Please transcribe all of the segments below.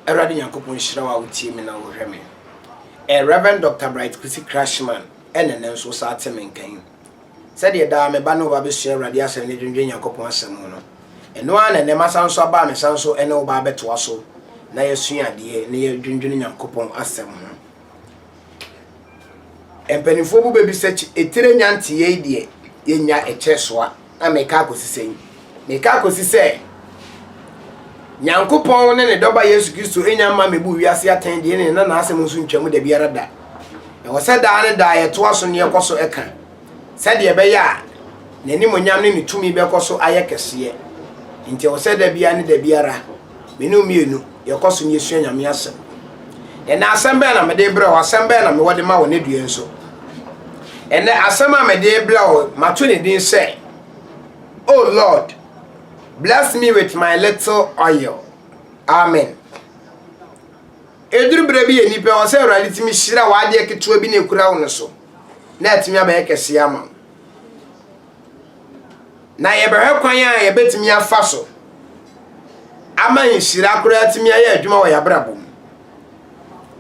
Awurade Nyankopɔn nhyira wo a wotie me na wohwɛ me. Eh, Rev. Dɔkta Bright Kwesi Krashman, ɛna nnɛ nso wosan te me nka yi. Sɛdeɛ daa me ba ne wo ba bɛsua Awurade Asɛm ne dwendwen Nyankopɔn Asɛm ho no, ɛno ara na nnɛ masan nso aba a mesan nso ne wo ba abɛtoa so na yɛasua adeɛ na yɛadwendwene Nyankopɔn Asɛm ho. Mpanimfoɔ bi bɛbisa kyi etire nya nteɛ yi deɛ yɛnnya ɛkyɛ soa na meka akɔsi sɛn? Meka akɔsi sɛ Nyankopɔn ne ne dɔba Yesu Kristo nya mma mɛbu wiase atɛn deɛ ne na n'asɛm nso ntwam da biara da. Ɛwɔ sɛ daa ne daa yɛtoa so ne yɛkɔ so ɛka. sɛdeɛ ɛbɛyɛ a n'animuonyam ne ne tumi bɛkɔ so ayɛ kɛseɛ. Enti ɛwɔ sɛ da biara ne da biara me ne wo mmienu yɛkɔ so na yɛsua Nyame Asɛm. Ɛnnɛ asɛm bɛn na mede rebrɛ wo? Asɛm bɛn na mewɔ de ma wo ne deɛ nso? Ɛnnɛ asɛm a mede rebrɛ wo, mato ne din sɛ, O Lord, bless me with my little oil. Amen. Ɛduru berɛ bi yɛ nnipa ɛwɔ sɛ Awurade tumi hyira w'adeɛ ketewa bi na ɛkura wo no so. na atumi abɛyɛ kɛseɛ ama wo. Na yɛbɛhwɛ kwan a yɛbɛtumi afa so ama nhyira koraa atumi ayɛ adwuma wɔ yɛabrabɔ mu.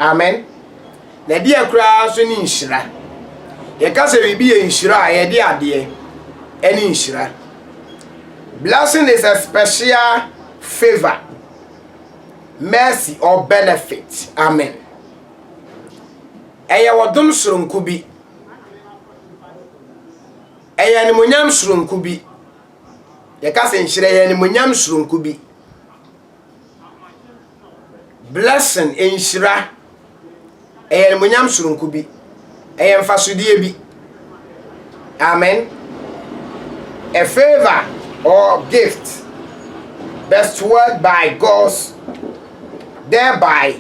Amen. Na ɛdeɛ koraa nso ne nhyira. Yɛka sɛ biribi yɛ nhyira a yɛde adeɛ ɛne nhyira. Blessing is a special favor, mercy or benefit. Amen. Ɛyɛ ɔdom sononko bi. Ɛyɛ animuonyam sononko bi. Yɛka sɛ nhyira yɛ animuonyam sononko bi. Blessing, nhyira, ɛyɛ animuonyam sononko bi. Ɛyɛ mfasodeɛ bi. Amen. A favor or gift bestowed by God's thereby.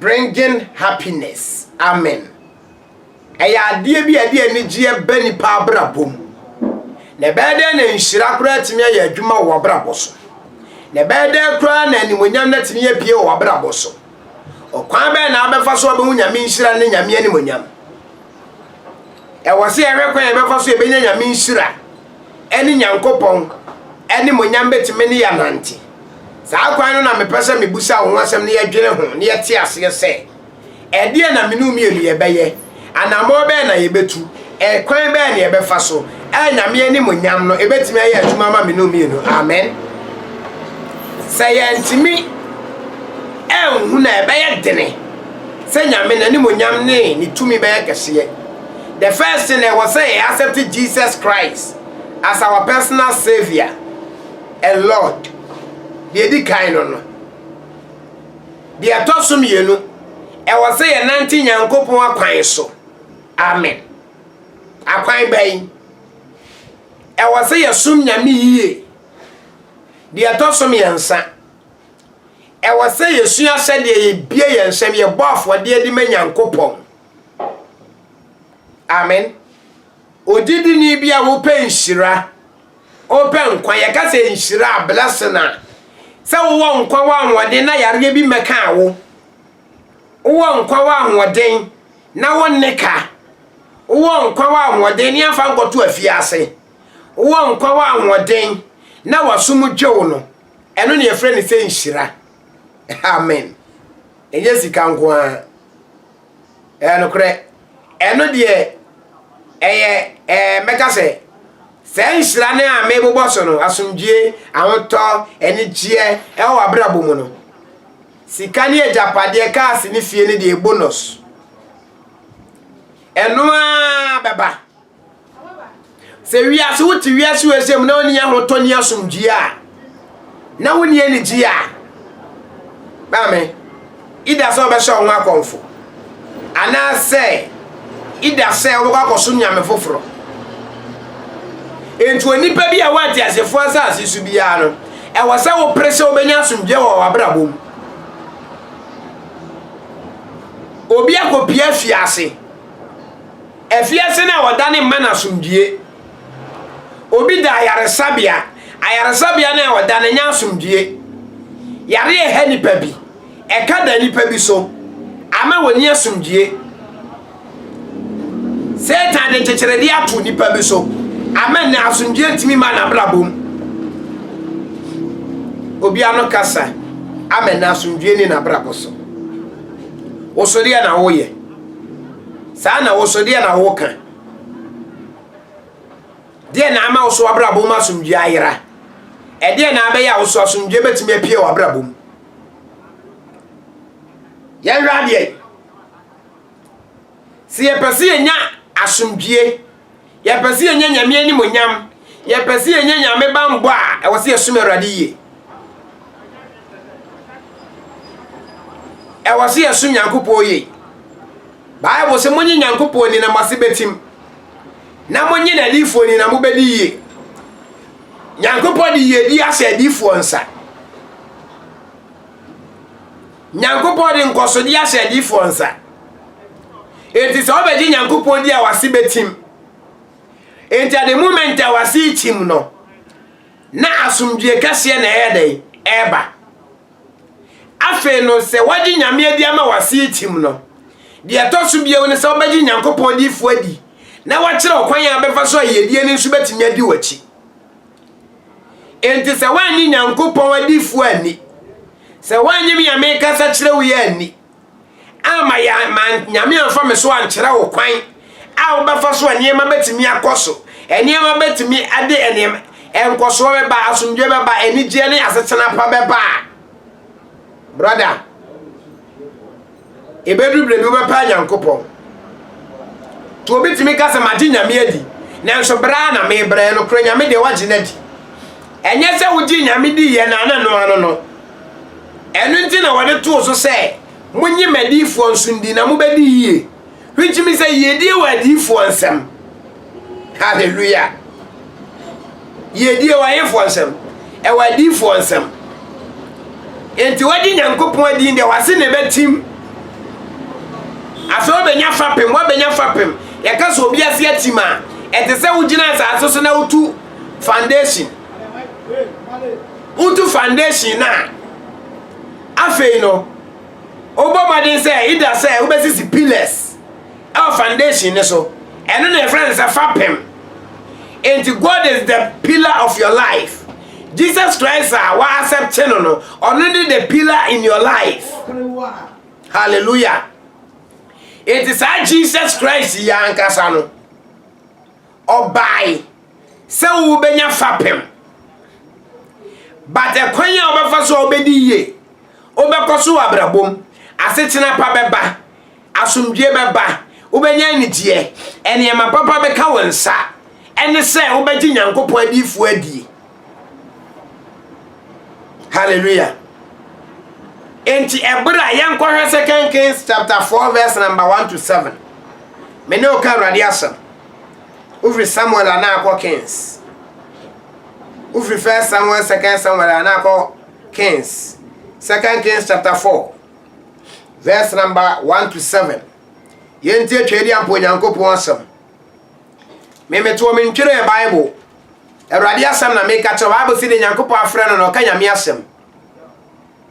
Bringing Happiness, Amen! Ɛyɛ adeɛ bi a ɛde anigyeɛ ba nnipa abrabɔ mu. Na ɛbɛyɛ dɛn na nhyira koraa atumi ayɛ adwuma wɔ w'abrabɔ so? Na ɛbɛyɛ dɛn koraa na animonyam no atumi apue wɔ w'abrabɔ so? Ɔkwan bɛn na abɛfa so abɛhu Nyame nhyira ne Nyame animonyam? Ɛwɔ sɛ yɛhwɛ kwan a yɛbɛfa so yɛbɛnya Nyame nhyira. ne Nyankopɔn animuonyam betumi ne yɛn anante. Saa kwan no na mepɛ sɛ mebisa wo ho asɛm na yɛdwene ho na yɛte aseɛ sɛ, ɛdeɛn na mene wo mmienu yɛbɛyɛ? Anammɔn bɛn na yɛbɛtu? Ɛkwan bɛn na yɛbɛfa so? A Nyame animuonyam no ɛbɛtumi ayɛ adwuma ama mene wo mmienu. Amen. Sɛ yɛntumi ɛnhu na ɛbɛyɛ dene sɛ Nyame n'animuonyam ne ne tumi bɛyɛ kɛseɛ. The first thing ɛwɔ sɛ yɛ accept Jesus Christ as our personal saviour and Lord. Deɛ ɛdi kan no no. Deɛ ɛtɔ so mmienu, ɛwɔ sɛ yɛ nante Nyankopɔn akwan so. Amen. Akwan bɛn? Ɛwɔ sɛ yɛsom Nyame yie. Deɛ ɛtɔ so mmiɛnsa, ɛwɔ sɛ yɛsua sɛdeɛ yɛbie yɛn nsɛm, yɛbɔ afɔdeɛ de ma Nyankopɔn. Amen. Ogyidini bi a wopɛ nhyira, wopɛ nkwa, yɛka sɛ nhyira a, blessing a, sɛ wowɔ nkwa wɔ ahoɔden na yareɛ bi mmɛka wo. Wowɔ nkwa wɔ ahoɔden na wonne ka. Wowɔ nkwa wɔ ahoɔden ne afa nkɔto afiase. Wowɔ nkwa wɔ ahoɔden na wasom dwew no. Ɛno na yɛfrɛ no sɛ nhyira. Amen. Ɛnyɛ sika nko ara. Ɛyɛ nokorɛ. Ɛno deɛ, ɛyɛ, ɛɛ, mɛka sɛ, saa nhyira no a mebobɔ so no, asomdwoeɛ, ahotɔ, anigyeɛ, ɛwɔ w'abrabɔ mu no. Sika ne agyapadeɛ, cars ne fie no deɛ, bonus. Ɛno ara bɛba. Sɛ wiase wote wiase wei sɛ mu na wonni ahotɔ ni asomdwoe a na wonni anigye a maame ida sɛ ɔbɛhyɛ wo ho akɔmfo anaasɛ ida sɛ wobɛkɔ akɔsom nyame foforɔ enti onipa bi a woate asefoɔ asase so biara no ɛwɔ sɛ wopere sɛ wobɛnya asomdwoe wɔ w'abrabɔ mu obi akɔpia fiase Afiase no a wɔdane mma no asomdwoe. Obi da ayaresabea, ayaresabea no a wɔda no nyɛ asomdwoe. Yare a ɛha nnipa bi, ɛka da nnipa bi so, ama wɔnni asomdwoe. Satan de nkyekyeredeɛ ato nnipa bi so, ama nnɛ asomdwoe ntumi mma n'abrabɔ mu. Obi ano kasa ama nnɛ asomdwoe ne n'abrabɔ so. Wosodeɛ na woyɛ. Saa na wo so, deɛ na woka? Deɛ na ama wo so w'abrabɔ mu asomdwoeɛ ayera? Ɛdeɛ na abɛyɛ a wo so asomdwoeɛ bɛtumi apue w'abrabɔ mu? Yɛnhwɛ adeɛ. Sɛ yɛpɛ sɛ yɛnya asomdwoeɛ Yɛpɛ sɛ yɛnya Nyame animonyam. Yɛpɛ sɛ yɛnya Nyame banbɔ a, ɛwɔ sɛ yɛsom Awurade yie. Ɛwɔ sɛ yɛsom Nyankopɔn yie. Bible sɛ monye Nyankopɔn ni na mo ase bɛtim, na monye n'adiyifoɔ ni na mobɛdi yie. Nyankopɔn de yiedie ahyɛ adiyifoɔ nsa. Nyankopɔn de nkɔsodeɛ ahyɛ adiyifoɔ nsa. Enti sɛ wɔbɛgye Nyankopɔn di a wase bɛtim. Enti at the moment a wase rekyim no, na asomdwie kɛseɛ na ɛyɛ dɛn? Ɛreba. Afei no sɛ wɔgye Nyame adi ama wase rekyim no, deɛ ɛtɔ so bio ne sɛ wɔbɛgye Nyankopɔn diyifoɔ adi na wɔakyerɛ wo kwan a wobɛfa so a yiedie no nso bɛtumi adi w'akyi. Enti sɛ woannye Nyankopɔn adifo anni, sɛ woannye me a mekasa kyerɛ wo yi anni, amma yɛ ma Nyame amfa me so ankyerɛ wo kwan a wobɛfa so a nneɛma bɛtumi akɔ so, nneɛma bɛtumi ade nneɛma, nkɔsoɔ bɛba, asomdwoe bɛba, anigyeɛ ne asetena pa bɛba a, brɔda, Ɛbɛduru berɛ bi wobɛpa Nyankopɔn. Nti obi tumi ka sɛ magye Nyame adi, nanso berɛ a na mebrɛ no korɛ Nyame deɛ wagye no adi. Ɛnyɛ sɛ wogye Nyame di yɛ na na noa no no. Ɛno nti na wɔde too so sɛ, monye m'adiyifoɔ nso ndi na mobɛdi yie, which means sɛ yiedie wɔ adiyifoɔ nsam. Hallelujah! Yɛdi ɛwɔ ayefoɔ nsɛm, ɛwɔ adiifoɔ nsɛm. Enti wadi Nyankopɔn adin deɛ wase na ɛbɛtim. Afei wobɛnya fapem, wabɛnya fapem. Yɛka sɛ obi ase atim a, ɛte sɛ wogyina asase so na wotu foundation. Wotu foundation no a, afei no, wobɔ mmɔden sɛ ida sɛ wobɛsisi pillars Ɛwɔ foundation no so. Ɛno na yɛfrɛ no sɛ fapem. Enti God is the pillar of your life. Jesus Christ a wa accept no no, ɔno ne the pillar in your life. Hallelujah. Enti saa Jesus Christ yi ankasa no, ɔbae sɛ wobɛnya fapem. But ɛkwan a wobɛfa so a wobɛdi yie, wobɛkɔ so wɔ abrabɔ mu, asetena pa bɛba. Asomdwoeɛ bɛba, wobɛnya anigyeɛ, nneɛma papa bɛka wo nsa, ɛne sɛ wobɛgye Nyankopɔn adiyifoɔ adie. Hallelujah. Enti ɛberɛ a yɛnkɔhwɛ Second Kings chapter 4 verse number 1 to 7. Me ne wo ka Awurade asɛm. Wofiri Samuel a na akɔ Kings. Wofiri First Samuel, Second Samuel a na akɔ Kings. Second Kings chapter 4. Verse number one to seven. Yɛntie Twɛdi Ampa Onyankopɔn asɛm. Memetoɔ me ntwerɛɛ Bible. Awurade asɛm na meka kyerɛ Bible si ne Nyankopɔn afrɛ no na ɔka Nyame asɛm.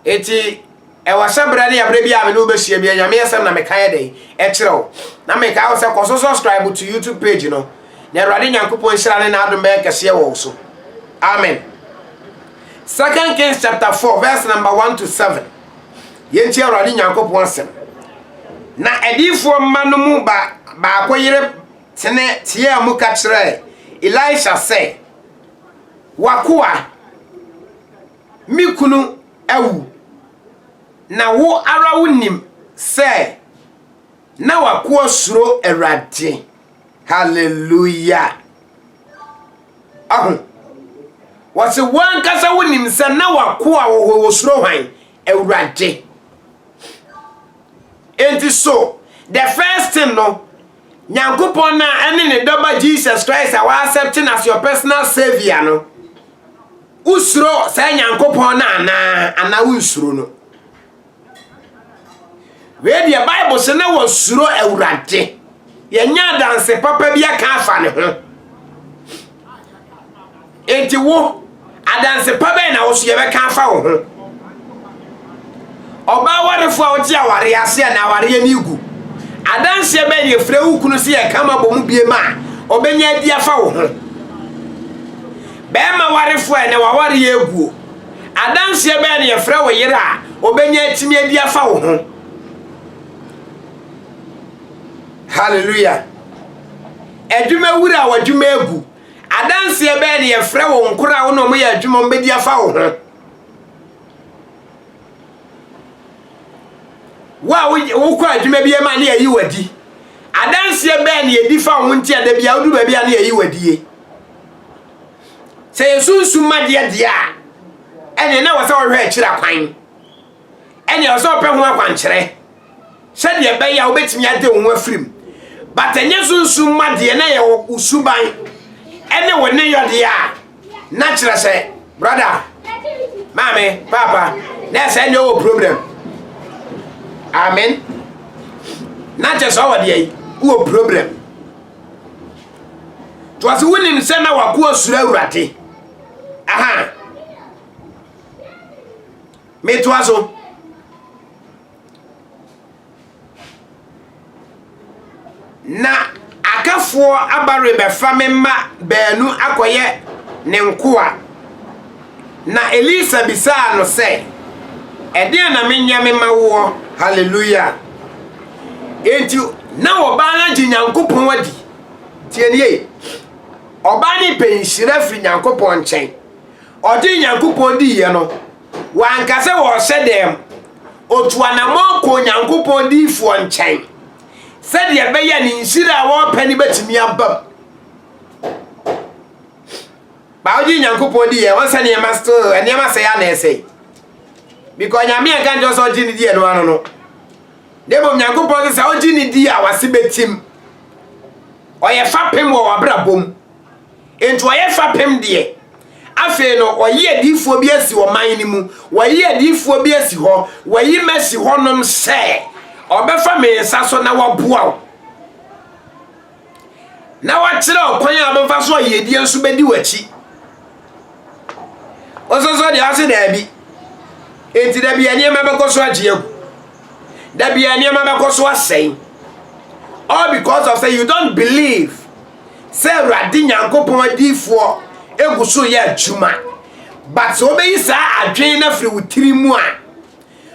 Eti ɛwɔ sɛ berɛ ne aberɛ bi a me ne wobɛhyia bi Nyame asɛm na meka yɛ dɛn ɛkyerɛ wo. Na meka wo sɛ kɔ so subscribe to YouTube page no. Na Awurade Nyankopɔn nhyira ne n'adom bɛyɛ kɛseɛ wɔ wo so. Amen. Second Kings chapter 4 verse number 1 to 7. Yɛntie Awurade Nyankopɔn asɛm. Na adiyifoɔ mma no mu ba baako yere tene teaa mu ka kyerɛɛ Elisha sɛ, W'akoa, me kunu awu, na wo ara wonim sɛ na w'akoa suro Awurade. Hallelujah! Ahu? Wɔse wo ankasa wonim sɛ na wakoa wɔ hɔ wɔsuro hwan? Awurade. Enti so the first thing no Nyankopɔn na ɛne ne dɔba Jesus Christ a wɔasɛpte no as your personal savior no wosuro saa Nyankopɔn no anaa anaa wonsuro no? Wei deɛ Bible se na wɔsuro Awurade. Yɛanya adanse papa bi aka afa ne ho. Enti wo, adanse pa bɛn na wo so yɛbɛka afa wo ho? Ɔbaa awarefo a wote awareɛ ase a na awareɛ no regu. Adanseɛ bɛn na yɛfrɛ wo kunu sɛ yɛka ma bɔ mu biem a ɔbɛnya adi afa wo ho? Bɛrima awarefo a na wawareɛ aguo. Adanseɛ bɛn na yɛfrɛ wo yere a ɔbɛnya atumi adi afa wo ho? Hallelujah. Adwuma wura a w'adwuma agu. Adanseɛ bɛn na yɛfrɛ wo nkora a wo na wɔyɛ adwuma wɔn bɛdi afa wo ho? Wo a wokɔ adwuma bi ma ne yɛyi w'adi. Adanseɛ bɛn na yɛdi fa wo ho nti a da bi a wodu baabi a ne yɛyi w'adie? Sɛ yɛn sunsum ma deɛ deɛ a, ɛneɛ na wɔ sɛ ɔhwɛ akyiri akwan. Ɛneɛ ɔsɛ ɔpɛ ho akwankyerɛ sɛdeɛ ɛbɛyɛ a wobɛtumi ade wo ho afirim. But ɛnyɛ sunsum ma deɛ na yɛ wo suban ɛne wo ne yɔdeɛ a na kyerɛ sɛ brada maame paapa na ɛsɛ ɛneɛ ɔwɔ problem. Amen. Na kyerɛ sɛ ɔwɔ deɛ wɔ problem. Because wonim sɛ na wakoa suro awurade. Aha. Metoa so. Na akafoɔ aba rebɛfa me mma baanu akɔyɛ ne nkoa. Na Elisa bisaa no sɛ, Ɛdeɛn na menyɛ mema woɔ? Haleluia! Enti na ɔbaa no agye Nyankopɔn adi. Tie nie, ɔbaa no repɛ nhyira firi Nyankopɔn nkyɛn. Ɔgyee Nyankopɔn diiɛ no, wanka sɛ ɔrehyɛ dɛm. Ɔtu anammɔn kɔɔ Nyankopɔn diyifoɔ nkyɛn sɛdeɛ ɛbɛyɛ a ne nhyira a ɔrepɛ no bɛtumi aba mu. Ba wogye Nyankopɔn di yɛ, ɔnsɛ nneɛma still, nneɛma sɛe a na ɛsɛe. Because Nyame anka nkyerɛ sɛ ɔgye ne di ɛno ano no. Na mmom Nyankopɔn sɛ sɛ ɔgye ne di a wase bɛtim. Ɔyɛ fapem wɔ wabrabɔ mu. Enti ɔyɛ fapem deɛ. Afei no ɔyi adiifoɔ bi asi ɔman no mu. Wayi adiifoɔ bi asi hɔ. Wayi masi hɔnom sɛ ɔbɛfa me nsa so na waboa wo. na wakyerɛ ɔkwan a bɛfa so a yiedie nso bɛdi w'akyi ɔsɔsɔ deɛ ase daabi enti dabi a nneɛma bɛkɔ so agye agu dabi a nneɛma bɛkɔ so asɛe all because of say you don't believe sɛ awurade nyankopɔn adiifoɔ egu so yɛ adwuma but sɛ wobɛyi saa adwene no afiri wo tiri mu a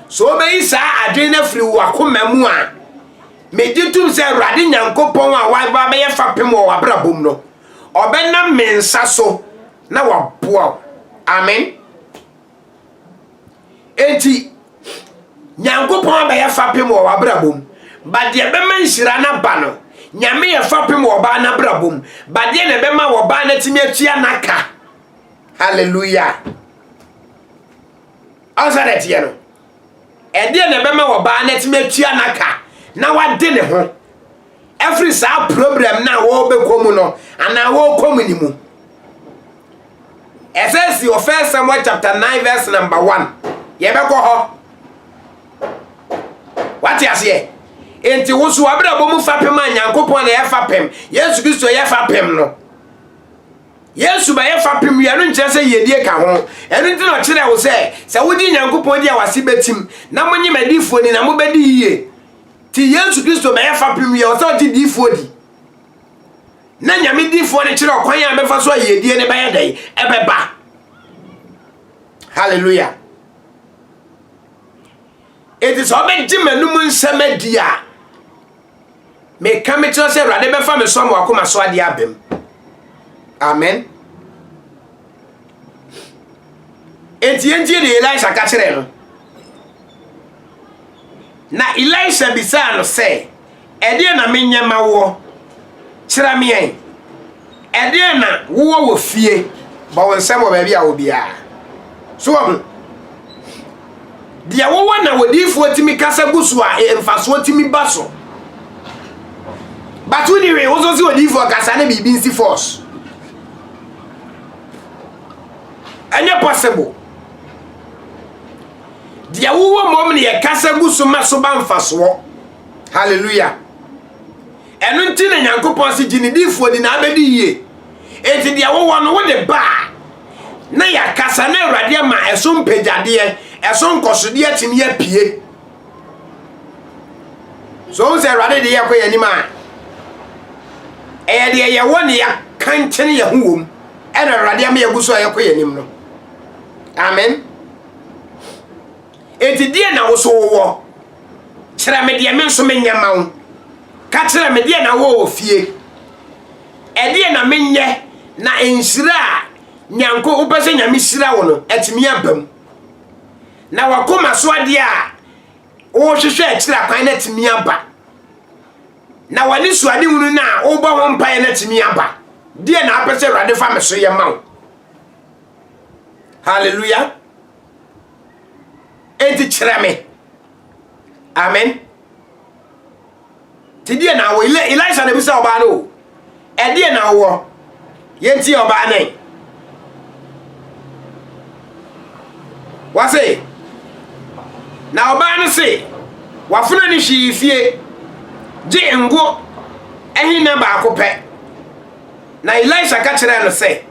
sɛ wobɛyi saa adwene no afiri wo akoma mu a Megye tom sɛ Awurade Nyankopɔn a waba abɛyɛ fapem wɔ w'abrabɔ mu no, ɔbɛnam me nsa so na waboa wo. Amen. Enti, Nyankopɔn abɛyɛ fapem wɔ w'abrabɔ mu. Badeɛ bɛma nhyira no aba no, Nyame yɛ fapem wɔ ɔbaa n'abrabɔ mu. Badeɛ na ɛbɛma wɔ ɔbaa no atumi atua n'aka. Hallelujah. Ɔnsa na ɛteɛ no. Ɛdeɛn na ɛbɛma ɔbaa no atumi atua n'aka na wade ne ho afiri saa problem no a wɔbɛkɔ mu no anaa wɔkɔ mu no mu? Ɛsɛ si wɔ First Samuel chapter 9 verse number 1. Yɛbɛkɔ hɔ. Wate aseɛ? Enti wo so abrabɔ mu fapem a Nyankopɔn na ɛyɛ fapem, Yesu Kristo yɛ fapem no. Yesu bɛyɛ fapem wia no nkyerɛ sɛ yiedie ka ho. Ɛno nti na ɔkyerɛɛ wo sɛ, sɛ wogye Nyankopɔn di a w'ase bɛtim, na monye m'adiyifoɔ ni na mobɛdi yie. Nti Yesu Kristo bɛyɛ fapem wia, ɔsɛ ɔgye diyifoɔ di. Na Nyame diyifoɔ no kyerɛ ɔkwan a bɛfa so a yiedie no bɛyɛ dɛn? Ɛbɛba. Hallelujah. Enti sɛ ɔbɛgye m'anum nsɛm adi a, Meka me tena sɛ Awurade bɛfa me so ama wakoma so adeɛ aba mu. Amen. Enti yɛntie deɛ Elisha ka kyerɛ no. Na Elisha bisaa no sɛ, ɛdeɛ na menyɛ ma woɔ? Kyerɛ me ɛn. Ɛdeɛn na wowɔ wɔ fie? Bɔ wo nsam wɔ baabi a wɔ biara. So wahu? Deɛ wowɔ na wɔdiifoɔ tumi kasa gu so a mfasoɔ tumi ba so. But woni hwee, woso se odiifoɔ kasa ne biribi nsi force. Ɛnyɛ possible. Deɛ wowɔ mmom ne yɛ kasa gu so ma so ba mfasoɔ. Hallelujah. Ɛno nti na Nyankopɔn se, Gye ne difoɔ di na abɛdi yie. Enti deɛ wowɔ no wode ba a, na yɛaka sa na Awurade ama ɛso mpagyadeɛ, ɛso nkɔsodeɛ atumi apue. So wohu sɛ Awurade de yɛkɔ yɛn anim a, ɛyɛ deɛ yɛwɔ ne yɛaka nkyene yɛn ho wom, ɛna Awurade ama yɛgu so a yɛkɔ yɛn anim no. Amen. Enti deɛ na wo so wowɔ. Kyerɛ me deɛ me nso menyɛ mma wo. Ka kyerɛ me deɛ na wowɔ wɔ fie. Ɛdeɛ na menyɛ na nhyira a Nyanko wopɛ sɛ Nyame hyira wo no atumi aba mu. Na wakoma so adeɛ a wohwehwɛ akyiri akwan no atumi aba. Na w'ani so ade hunu no a wobɔ ho mpaeɛ no atumi aba. Deɛ na apɛ sɛ Awurade fa me so yɛ ma wo. Hallelujah. Enti kyerɛ me. Amen. Ti deɛ na awɔ Elisha na bisa ɔbaa no o. Ɛdeɛ na awɔ. Yɛnti ɔbaa no. Wase. Na ɔbaa no se wafuna ne hwee fie gye ngo ɛhe na baako pɛ. Na Elisha ka kyerɛ no sɛ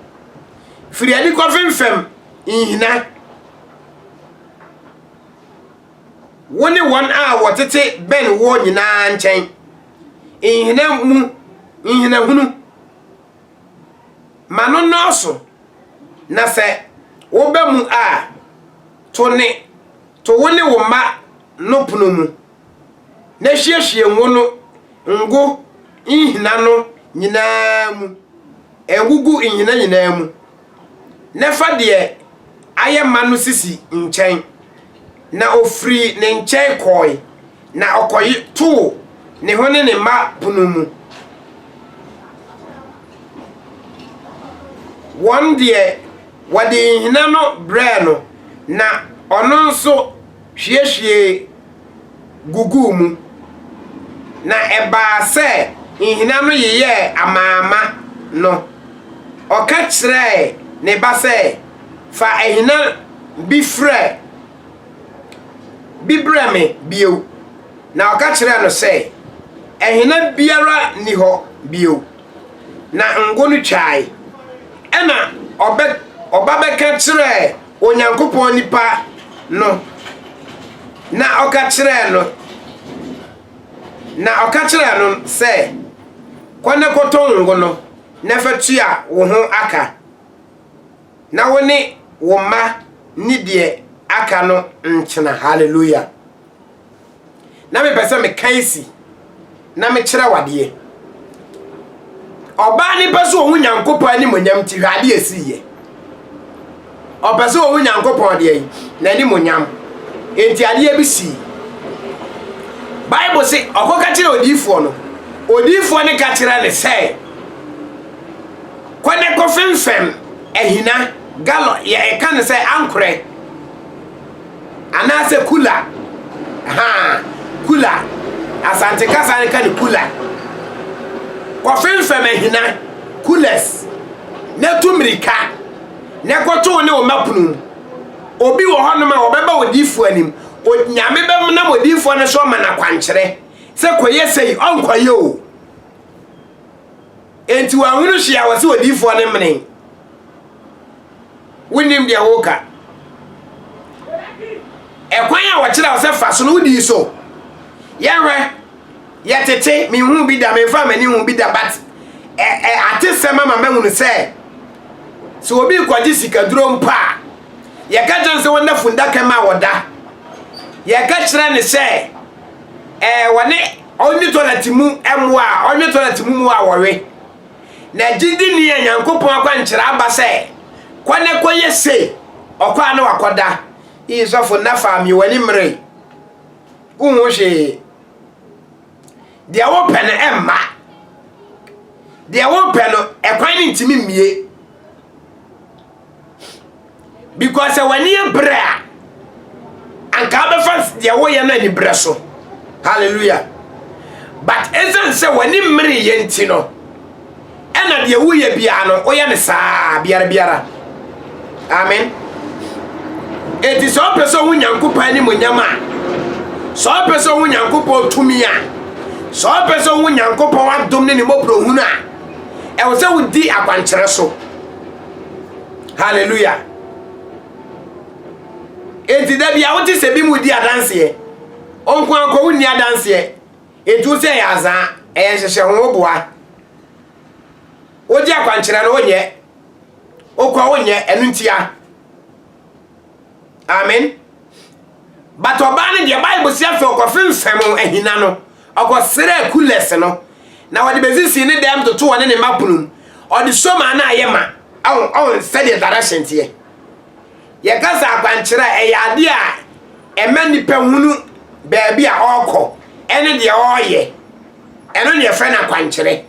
firi adi kɔfemfam nhina wo ne wɔn a wɔtete bɛn woɔ nyinaa nkyɛn. Nhina mu nhinahunu ma no nnɔɔso, na sɛ woba mu a, to ne to wo ne wo mma no pono mu, na hyiehwie ngo no ngo nhina no nyinaa mu. Ngugu nhina nyinaa mu. na fa deɛ ayɛ ma no sisi nkyɛn. Na ɔfirii ne nkyɛn kɔɔe, na ɔkɔtoo ne ho ne ne mma pono mu. Wɔn deɛ, wɔde nhina no brɛɛ no, na ɔno nso hwiehwiee guguu mu, na ɛbaa sɛ nhina no yeyɛɛ amaama no, ɔka kyerɛɛ ne ba sɛ, Fa ahina bi frɛ bi brɛ me bio. Na ɔka kyerɛɛ no sɛ, Ahina biara nni hɔ bio. Na ngo no twae. Ɛnna ɔba bɛka kyerɛɛ Onyankopɔn nipa no, na ɔka kyerɛɛ no, na ɔka kyerɛɛ no sɛ, Kɔ na kɔtɔ wo ngo no na fa tua wo ho aka, na wo ne wo mma nni deɛ aka no ntena. Haleluya! Na mepɛ sɛ meka esi na mekyerɛ wadeɛ. Ɔbaa no pɛ sɛ ɔhu Nyankopɔn animonyam nti hwɛ adeɛ esi yɛ. Ɔpɛ sɛ ɔhu Nyankopɔn deɛ yi n'animonyam nti adeɛ bi sii. Bible se ɔkɔ ka kyerɛ odiifoɔ no. Odiifoɔ no ka kyerɛ ne sɛ kɔ ne kɔ fɛmfɛm ahina gallon yɛ ɛka ne sɛ ankorɛ. Anaasɛ kula. Ahaa, kula. Asante kasa no ka no kula. Kɔfemfam ahina, coolers, na tu mmirika na kɔto wo ne wo mma pono mu. Obi wɔ hɔnom a ɔbɛba odiyifoɔ anim, Nyame bɛnam odiyifoɔ no so ama no akwankyerɛ sɛ kɔyɛ sei, ɔnkɔyɛ o. Enti wanhunu hwee a ɔse odiyifoɔ no mmene. Wonnim deɛ woreka. Ɛkwan a wɔkyerɛ wo sɛ fa so no, wodii so. Yɛhwɛ, yɛtete, menhuu bi da, memfaa m'ani nhuu bi da, but ɛ ɛ atesɛm ama mahunu sɛ sɛ obi rekɔgye sikaduro mpo a, yɛka kyerɛ no sɛ wɔnna fundaka mu a wɔda. Yɛka kyerɛ no sɛ ɛɛ wɔne ɔnwe tɔlɛt mu mmoa a ɔnwe tɔlɛt mu mmoa a wɔwe. Na gyidi ni a Nyankopɔn akwankyerɛ aba sɛ, Kɔ na kɔyɛ sei. Ɔkɔ a na wakɔda. Ii sɔfo Nafaa mye w'ani mmere. Wonhu hwee. Deɛ wopɛ no ɛmma. Deɛ wopɛ no ɛkwan no ntumi mmie. Because sɛ w'ani yɛ brɛ a, anka wobɛfa deɛ woyɛ no anibrɛ so. Hallelujah. But ɛsiane sɛ w'ani mmere yɛ nti no, ɛna deɛ woyɛ biara no, woyɛ no saa biara biara. Amen. Enti sɛ ɔpɛ sɛ ɔho Nyankopɔn animonyam a, sɛ ɔpɛ sɛ ɔho Nyankopɔn tumi a, sɛ ɔpɛ sɛ ɔho Nyankopɔn adom ne ne mmɔborɔhunu a, ɛwɔ sɛ wodi akwankyerɛ so. halleluya enti da bia wote sɛ bi mu di adanseɛ ɔnko ankɔ wonni adanseɛ enti wo sɛ ɛyɛ azaa ɛyɛ nhyehyɛ ho woboa wogye akwankyerɛ no wonyɛ wokɔ wonyɛ ɛno ntia Amen. But ɔbaa no deɛ Bible si afei ɔkɔfemfam ahina no, ɔkɔsrɛɛ kulɛs no, na ɔde bɛsisii ne dan mu toto ɔne ne mma pono mu. Ɔde somaa no ayɛ ma. Ɔn, ɔn, sɛdeɛ direction teɛ. Yɛka sɛ akwankyerɛ a, ɛyɛ adeɛ a ɛma nipa hunu baabi a ɔrekɔ ɛne deɛ ɔreyɛ. Ɛno na yɛfrɛ no akwankyerɛ.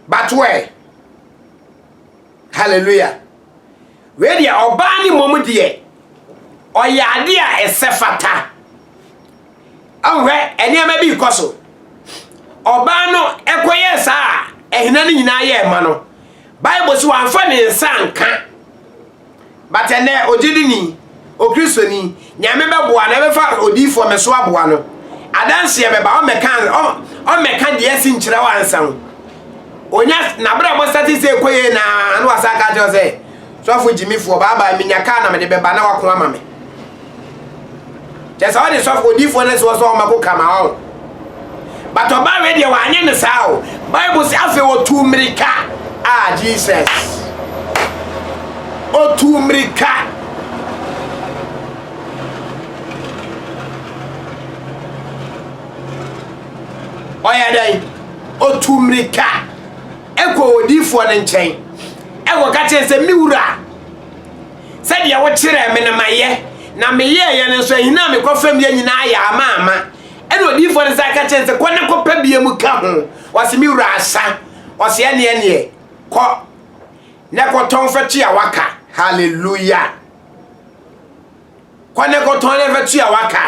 But where? Hallelujah. Wei deɛ, ɔbaa no mmom deɛ, ɔyɛ adeɛ a ɛsɛ fata. Ahwɛ, nneɛma bi rekɔ so. Ɔbaa no kɔyɛɛ saa a ahina no nyinaa yɛɛ ma no. Bible so wamfa ne nsa anka. But ɛnɛ, ɔgye di ni. Okristoni, Nyame bɛboa no, ɛbɛfa odiyifoɔ me so aboa no. Adanseɛ bɛba, ɔmmɛka ɔmmɛka deɛ asi nkyerɛ wo ansa o. Onya n'abrabɔ sate sɛ ɛkɔ yie na na wasan aka kyerɛ sɛ, sɔfo gyimifoɔ, bye bye, menya kaa na mede bɛba na wako ama me. Kyɛ sɛ ɔde sɔfo odiyifoɔ no soɔ sɛ ɔmmɛko ka ma wɔn. But ɔbaa wei deɛ wanyɛ no saa o. Bible se afei ɔtuu mmirika. Ah Jesus. Ɔtuu mmirika. Ɔyɛ dɛn? Ɔtuu mmirika. Ɛkɔ odiyifoɔ no nkyɛn. Ɛkɔ ka kyerɛ sɛ me wura. Sɛdeɛ wokyerɛɛ me no mayɛ, na meyɛeɛ no nso, ahina a mekɔ fam yɛ nyinaa yɛ amaama. Ɛnna odiyifoɔ no san ka kyerɛɛ no sɛ, Kɔ na kɔpɛ bie mu ka ho. Ɔse, Me wura asa. Ɔse, Ɛnneɛ ɛnneɛ, kɔ na kɔtɔn fa tua w'aka. Hallelujah! Kɔ na kɔtɔn na fa tua w'aka.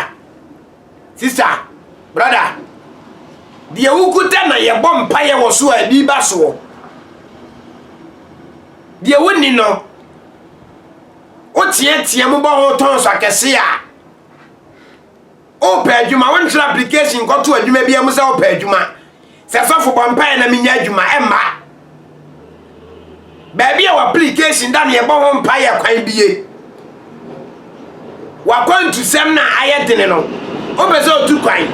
Sista, brada, deɛ wokuta na yɛbɔ mpaeɛ wɔ so a ebi ba soɔ. Deɛ wonni no, woteatea mu bɔ ho tɔnso akɛse a, wopɛ adwuma, wonhwere application nkɔto adwuma biara mu sɛ wopɛ adwuma. Sɛ sɔfo bɔ mpaeɛ na menya adwuma ɛmma. Baabi a w'application da no yɛbɔ ho mpaeɛ kwan bie. W'akwantusɛm na ayɛ dene no wopɛ sɛ otu kwan.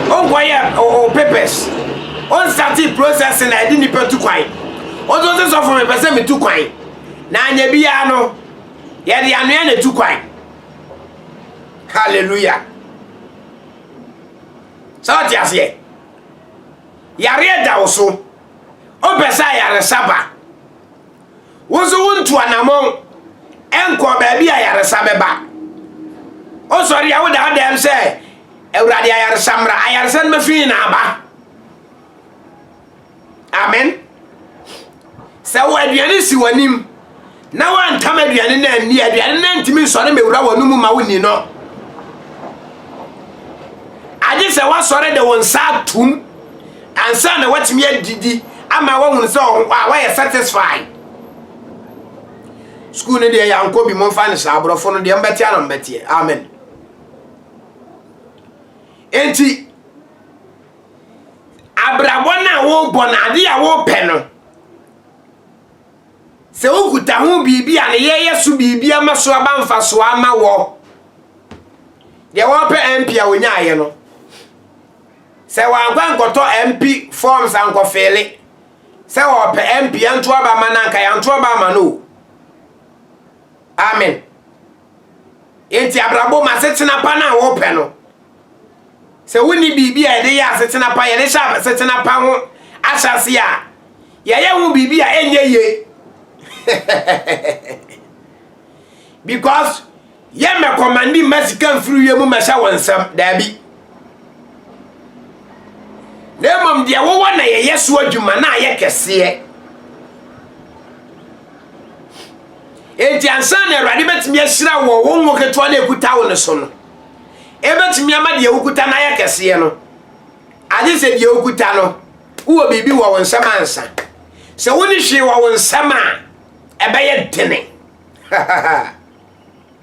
Wonkɔyɛ o papers. Wonsate process na ɛde nipa tu kwan. Wonso sɛ sɔfo mepɛ sɛ metu kwan. Na anyɛ biara no yɛde anoa na etu kwan. Hallelujah. Sɛ wote aseɛ? Yareɛ da wo so. Wopɛ sɛ ayaresa ba. Wo nso wontu anamɔn nkɔɔ baabi a ayaresa bɛba. Wosɔre a woda wodam sɛ Awurade ayaresa mmra. Ayaresa no bɛfiri na aba. Amen. Sɛ wo aduane si w'anim na woantam aduane no anni, aduane no ntumi nsɔre mewura w'ano mu ma wonni no. Agye sɛ woasɔre de wo nsa atom ansa na woatumi adidi ama woahunu sɛ woayɛ satisfied. Sukuu no deɛ yɛankɔ bi momfa no saa aborɔfo no deɛ mbɛteɛ na mbɛteɛ. Amen. Enti Abrabɔ no a worebɔ no, ade a worepɛ no, sɛ wokuta ho biribi a ne yɛ yɛ so biribi ama so aba mfasoɔ ama wɔ deɛ wɔpɛ MP a wɔnyaeɛ no sɛ wɔankɔ ankɔtɔ MP forms ankɔfeele sɛ wɔpɛ MP anto aba ma no anka yɛanto aba ama no o amen Enti abrabɔ mu asetena pa no a wɔpɛ no, sɛ wonni biribi a yɛde yɛ asetena pa, yɛde hyɛ asetena pa ho ahyɛse a, yɛyɛ ho biribi a ɛnyɛ ye. Because yɛ mɛkɔmandi mma sika mfiri wie mu mɛhyɛ wɔn nsam. Daabi. Na mmom deɛ wowɔ na yɛyɛ so adwuma na ayɛ kɛseɛ. Enti ansa na Awurade bɛtumi ahyira wɔ wo ngo ketewa na ɛkuta wo no so no, ɛbɛtumi ama deɛ wokuta no ayɛ kɛseɛ no, agye sɛ deɛ wokuta no, wowɔ biribi wɔ wo nsɛm ansa. Sɛ wone hwee wɔ wo nsɛm a, ɛbɛyɛ dene.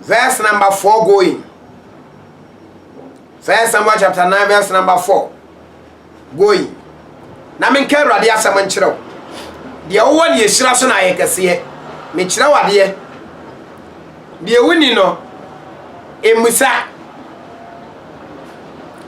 Verse number four going. First Samuel chapter nine verse number four going. Na menka Awurade asɛm nkyerɛ wo. Deɛ wowɔ ne ahyira so na ayɛ kɛseɛ. Mekyerɛ wo adeɛ. Deɛ wonni no, mmusa.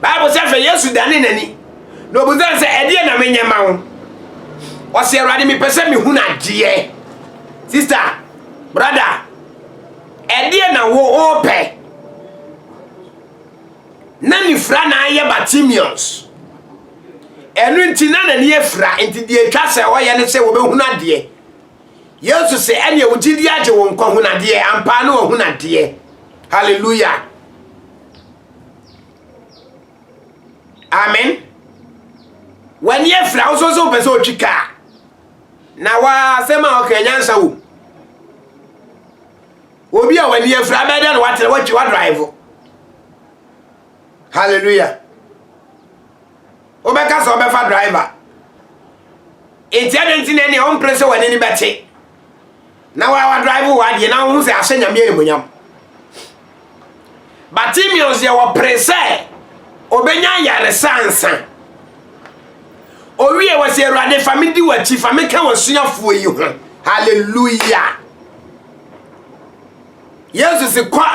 Bible sɛ afei Yesu danee n'ani, na ɔbusaa no sɛ, Ɛdeɛ na menyɛ ma wo? Ɔse, Awurade, mepɛ sɛ mehunu adeɛ. Sista, brada, ɛdeɛ na wo ɔɔpɛ? Na ne fira na ayɛ Bartimeus. Ɛno nti na n'ani afira, nti deɛ ɛtwa sɛ ɔyɛ ne sɛ wɔbɛhunu adeɛ. Yesu se, ɛneɛ wo gyidi agye wo nkɔ hunadeɛ, ampaa ne wahunu adeɛ. Hallelujah. Amen. W'ani afira wo so sɛ wopɛ sɛ ɔtwi kaa. Na w'asɛm a ɔka nyansa wom. Obi a w'ani afira bɛyɛ dɛ na watena watwi wadrive. Hallelujah. Wobɛka sɛ ɔbɛfa driver. Nti ɛdɛ nti na ɛne ɔmpere sɛ w'ani ni bɛte. Na wa wa drive wa deɛ na wohu sɛ ahyɛ nyame animonyam Bartimeus deɛ wɔpere sɛ ɔbɛnya ayaresa ansa owie wɔ sɛ awurade fa me di w'akyi fa me ka w'asuafoɔ yi ho hallelujah yesu se kɔ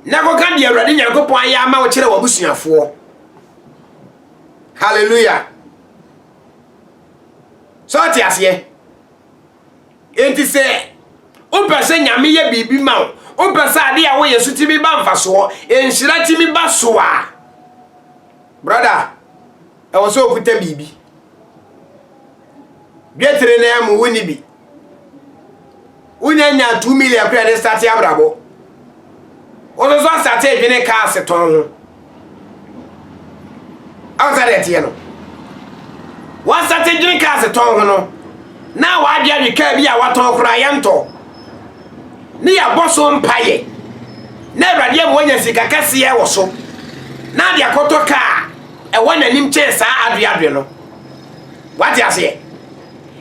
na kɔka deɛ awurade nyankopɔn ayɛ ama wo kyerɛ w'abusuafoɔ hallelujah sɛ ɔte aseɛ Enti sɛ wopɛ sɛ Nyame yɛ biribi ma wo, wopɛ sɛ ade a woyɛ so tumi ba mfasoɔ, nhyira tumi ba so a, brɔda, ɛwɔ sɛ okuta biribi. Dwetire no ara mu wonni bi. Wonya nya two million koraa de starte abrabɔ. Wo no nso asate adwene cars tɔn ho. Awo sɛ deɛ teɛ no. Wasate adwene cars tɔn ho no. Na wadwe adwe kaa bi a watɔn koraa yɛntɔ. Ne yɛabɔ so mpaeɛ. Na awurade ama wanya sika kɛseɛ wɔ so. Na de akɔtɔ kaa ɛwɔ n'anim kyɛn saa adwe adwe no. Wate aseɛ?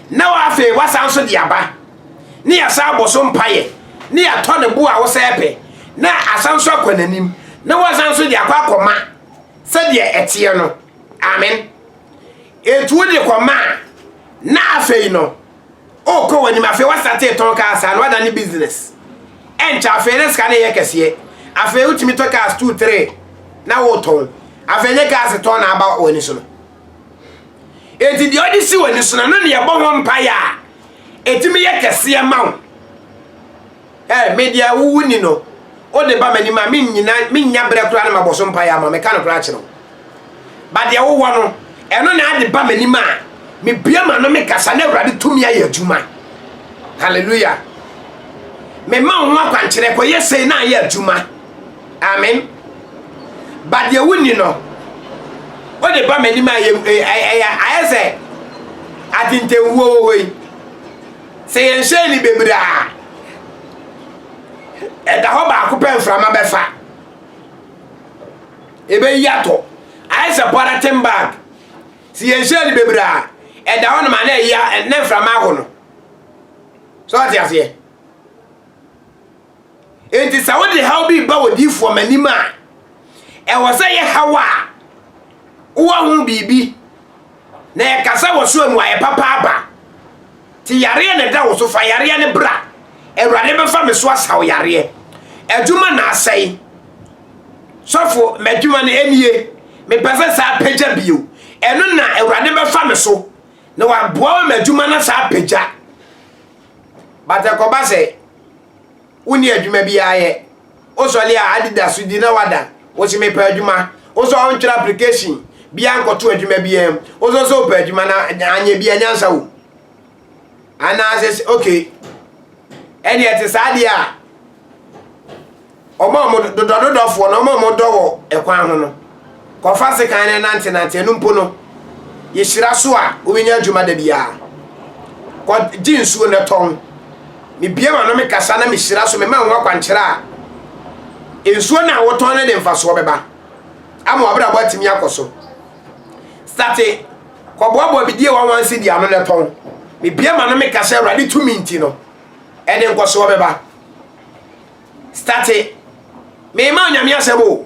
Na afei wasan so de aba. na yɛasan abɔ so mpaeɛ na yɛatɔ ne bo a wosɛ pɛ na asan nso akɔ n'anim na wasan nso de akɔ akɔma sɛdeɛ ɛteɛ no amen ɛtu wode kɔma a na afei no ɔkɔ w'anim afei wasate tɔn kaa saa na wada ne business ɛnkyɛ afei ne sika no yɛ kɛseɛ afei wotumi tɔ cars two three na wotɔn afei nyɛ cars tɔn na aba w'ani so no Enti deɛ ɔde si w'ani so no, ɛno na ɛbɔ ho mpaeɛ a, ɛtumi yɛ kɛseɛ ma wo. Ɛ me deɛ wowu ni no, wode ba m'anim a mennyina mennya berɛ koraa na mabɔ so mpaeɛ ama meka no koraa kyerɛ wo. Ba deɛ wowɔ no, ɛno na ade ba m'anim a mebue m'ano mekasa na Awurade tumi ayɛ adwuma. Hallelujah. Mema wo ho akwankyerɛ kɔyɛ sei na ayɛ adwuma. Amen. But deɛ wonni no, wode ba m'anim a ayɛ sɛ atentewuo wɔ hɔ yi. Sɛ yɛnhyɛn ni bebree a, ɛda hɔ baako pɛ mframa bɛfa. Ɛbɛyi atɔ. Ayɛ sɛ pɔlɛten bag. Sɛ yɛnhyɛn ni bebree a, ɛda hɔ nom a na ɛyi a na mframa aho no. So ɔte aseɛ? Enti sɛ wode haw bi reba odiyifoɔ m'anim a, ɛwɔ sɛ yɛ haw a wowɔ ho biribi na yɛkasa wɔ so a mmuaeɛ papa aba. Nti yareɛ na ɛda wo so, fa yareɛ no bra. Awurade bɛfa me so asaw yareɛ. Adwuma na asɛe. Sɔfo, m'adwuma no ɛnie. Mepɛ sɛ saa apagya bio. Ɛno na Awurade bɛfa me so na waboa ma m'adwuma no saa apagya. But ɛkɔba sɛ wonni adwuma biara yɛ. Wosɔre a, Adidas di na wadan. Wose mepɛ adwuma. Wosɛ ɔntwerɛ application biara nkɔto adwuma biara mu. Wosɛ ɔsɛ ɔpɛ adwuma na anyɛ bi anyansa wom. Anaasɛ okay. Ɛne ɛte saa deɛ a. Wɔn a wɔdodɔdodɔfoɔ no, wɔn a wɔdɔ wɔ ɛkwan ho no, kɔfa sekan no nantenante. Ɛno mpo no, yɛhyira so a wobɛnya adwuma da biara. Kɔgye nsuo na tɔn. Mebue m'ano mekasa na mehyira so, mema wo ho akwankyerɛ a, nsuo no a wotɔn no de mfasoɔ bɛba ama w'abrabɔ atumi akɔ so. Sate, kɔboaboa bidie wɔn wansi di ano na tɔn. Mebue m'ano mekasa Awurade tumi nti no, ɛde nkɔsoɔ bɛba. Starte mema wo nyame asɛm o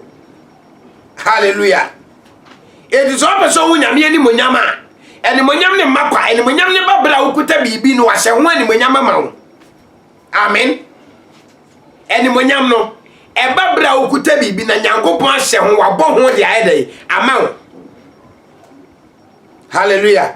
hallelujah enti sɛ ɔpɛ sɛ ɔhu nyame animonyam a animonyam ne mma kwa animonyam ne ba bere a wokuta biribi no wahyɛ ho animonyam ama wo amen animonyam no ɛba bere a wokuta biribi na nyankopɔn ahyɛ ho wabɔ ho de ayɛ dɛn ama wo hallelujah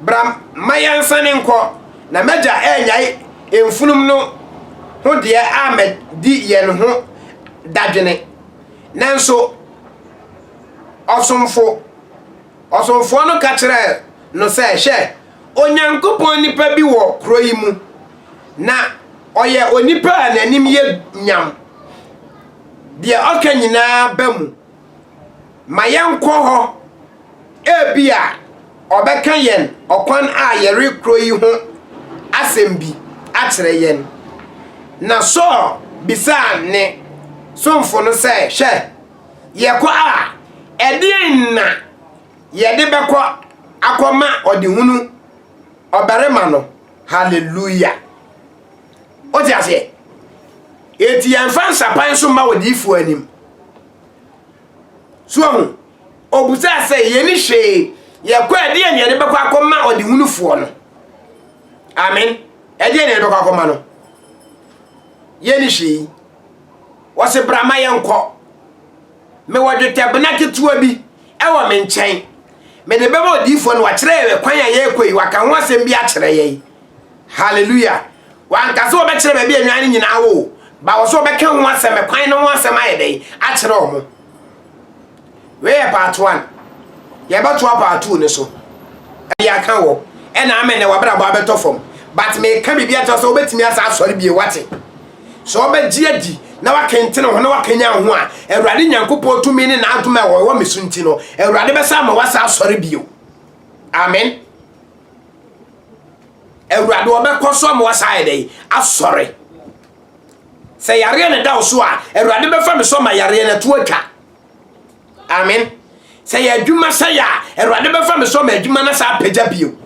Bra mma yɛnsane nkɔ, na m'agya annyae mfunumu no ho deɛ ammɛdi yɛn ho dadwene. Nanso ɔsomfo, ɔsomfoɔ no ka kyerɛɛ no sɛ, Hwɛ, Onyankopɔn nipa bi wɔ kuro yi mu, na ɔyɛ onipa a n'anim yɛ nyam, deɛ ɔka nyinaa ba mu. ma yɛnkɔ hɔ. Ebia ɔbɛka yɛn ɔkwan a yɛrekɔ yi ho asɛm bi akyerɛ yɛn. Na Saul bisaa ne somfo no sɛ, Hwɛ, yɛkɔ a, ɛdeɛn na yɛde bɛkɔ akɔma ɔdehunu ɔbarima no? Haleluia! Wote aseɛ? Enti yɛmfa nsapan so mma odiyifoɔ anim. So ahu? Ɔbusaa sɛ yɛni hwee yɛkɔ a ɛdeɛ ne yɛde bɛkɔ akɔma ɔdehunufoɔ no. Amen. Ɛdeɛ ne yɛde bɛkɔ akɔma no. Yɛni hwee. Wɔse bra ma yɛnkɔ. Mewɔ dwetɛbena ketewa bi ɛwɔ me nkyɛn. Mede bɛma odiyifoɔ no wakyerɛ yɛn kwan a yɛrekɔ yi waka ho asɛm bi akyerɛ yɛn. Hallelujah! Wanka sɛ wɔbɛkyerɛ baabi a nnwan no nyinaa wɔ o, but wɔsɛ wɔbɛka ho asɛm, kwan no ho asɛm ayɛ dɛn akyerɛ wɔn. Wei yɛ part one. Yɛbɛtoa part two no so. Ɛde aka wɔ. Ɛna ama ɛnɛ wabrabɔ abɛtɔ fam. But meka biribi akyerɛ sɛ wobɛtumi asa asɔre bie wate. Sɛ wɔbɛgye adi na wakentene ho na wakanya ho a, Awurade Nyankopɔn tumi ne n'adom a wɔwɔ me so nti no, Awurade bɛsa ama wasa asɔre bio. Amen. Awurade ɔbɛkɔ so ama wasa ayɛ dɛn asɔre sɛ yareɛ ne da wo so a awurade bɛfa me so ma yareɛ no to atwa amen sɛ yɛ adwuma sɛ yɛ a awurade bɛfa me so ma adwuma no saa apagya bio